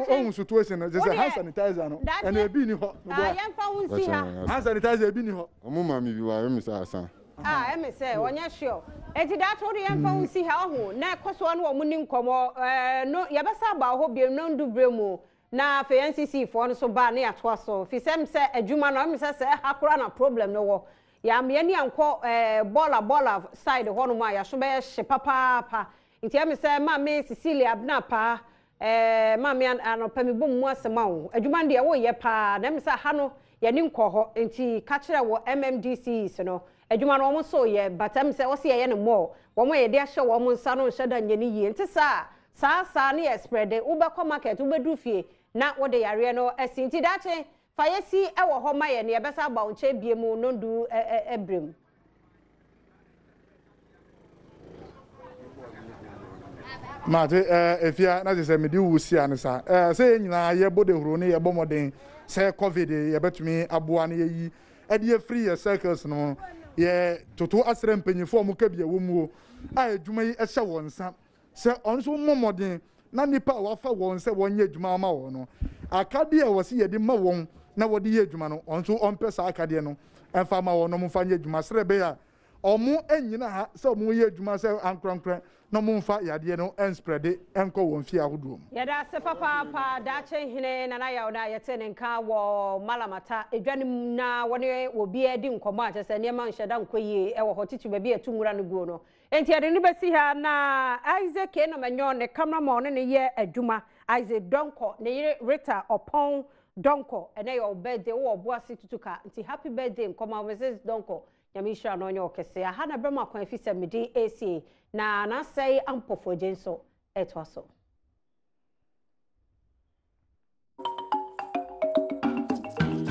ohun situation no sɛ hand sanitizer no ɛna ebi ni hɔ. Ah, yɛn fa ho nsi ha. Hand sanitizer ebi ni hɔ. Ɔmo maa mi bi wa ɛmi sɛ asan. Ah, ɛmi sɛ ɔnyɛ sure. Eti daakye ɔde yɛn fa ho nsi ha ɔho na ɛkɔ so ɔne ɔmo ni nkɔmɔ ɛɛ no yɛbɛsa aba ɔhɔ biem na ndu bere mu Na afei NCC foɔ no so baa ne yatoa so fi sɛ mesɛ adwuma no mesɛ sɛ ɛha koraa na problem no wɔ yɛama yɛni ankɔ ɛɛ bɔɔla bɔɔla side hɔ nom a yaso bɛyɛ hye papaapa nti ɛmesɛ maame Cecilia Abena Apaa ɛɛ maame anɔpa me bom mu ase ma wo adwuma no deɛ wo yɛ paa na ɛmesɛ aha no yɛni nkɔ hɔ nti kakyerɛ wɔ MMDCs no adwuma no wɔn so yɛ but ɛmesɛ wɔse yɛyɛ no more wɔn a yɛde ahyɛ wɔn nsa no nhyɛ da nyɛ ne yie nte saa Saa saa no yɛ sprɛde, wobɛkɔ market, wobɛduru fie na wode yareɛ no asi. Nti daakye fa yɛ si wɔ hɔ ma yɛn na yɛbɛsan aba wo nkyɛn bio mu no nnuru berɛ mu. Mate, eh, efia, na kyesɛ mede wo si ane sa. Eh, sɛ yɛ nyinaa yɛ bɔ dehuro ne yɛ bɔ mɔden sɛ COVID yɛ bɛtumi aboa ne yɛ yi ɛde afiri yɛ circles no, yɛ toto asrɛ mpanyinfoɔ ɔmo ka bi ɛwɔ muo a ɛdwuma yi ɛhyɛ wɔn nsa. Sɛ ɔno nso mmɔ mmɔden na nnipa a wɔafa wɔn sɛ wɔnyɛ adwuma ama wɔn no, akadeɛ a wɔse yɛde ma wɔn na wɔde yɛ adwuma no, ɔno nso ɔmpɛ saa akadeɛ no mfa mma wɔn na wɔmfa nyɛ adwuma sɛdeɛ ɛbɛyɛ a wɔnnyina ha sɛ wɔyɛ adwuma sɛ ankorankorɛ na wɔmfa yadeɛ no nsprɛde nkɔ wɔn fie ahodoɔ mu. Yɛda ase papaapa Daakye Hene Nana Yaw no a yɛtee ne nka wɔ Malamata dwa no mu na wɔne obiara di nkɔmmɔ a kyerɛ sɛ nneɛma nhyɛ da nkɔ yie wɔ hɔ titiriw baabi a yɛto nwura no guo no. Enti yɛde no bɛsi ha na Isaac Anum Anyɔn, ne camera ma ɔne no yɛ adwuma, Isaac Donkor, ne yere Rita Ɔpɔn Donkor, ɛnɛ yɛ wo birthday, wowɔ ɔboase tutuka, nti happy birthday nkɔma wo Mrs Donkor, Nyame nhyira no ɔnyɛ wo kɛse, aha na ɛbrɛ mo akwan efisɛ me din ɛresie, na N'Asɛe Ampɔfoɔ gye nso ɛretoa so.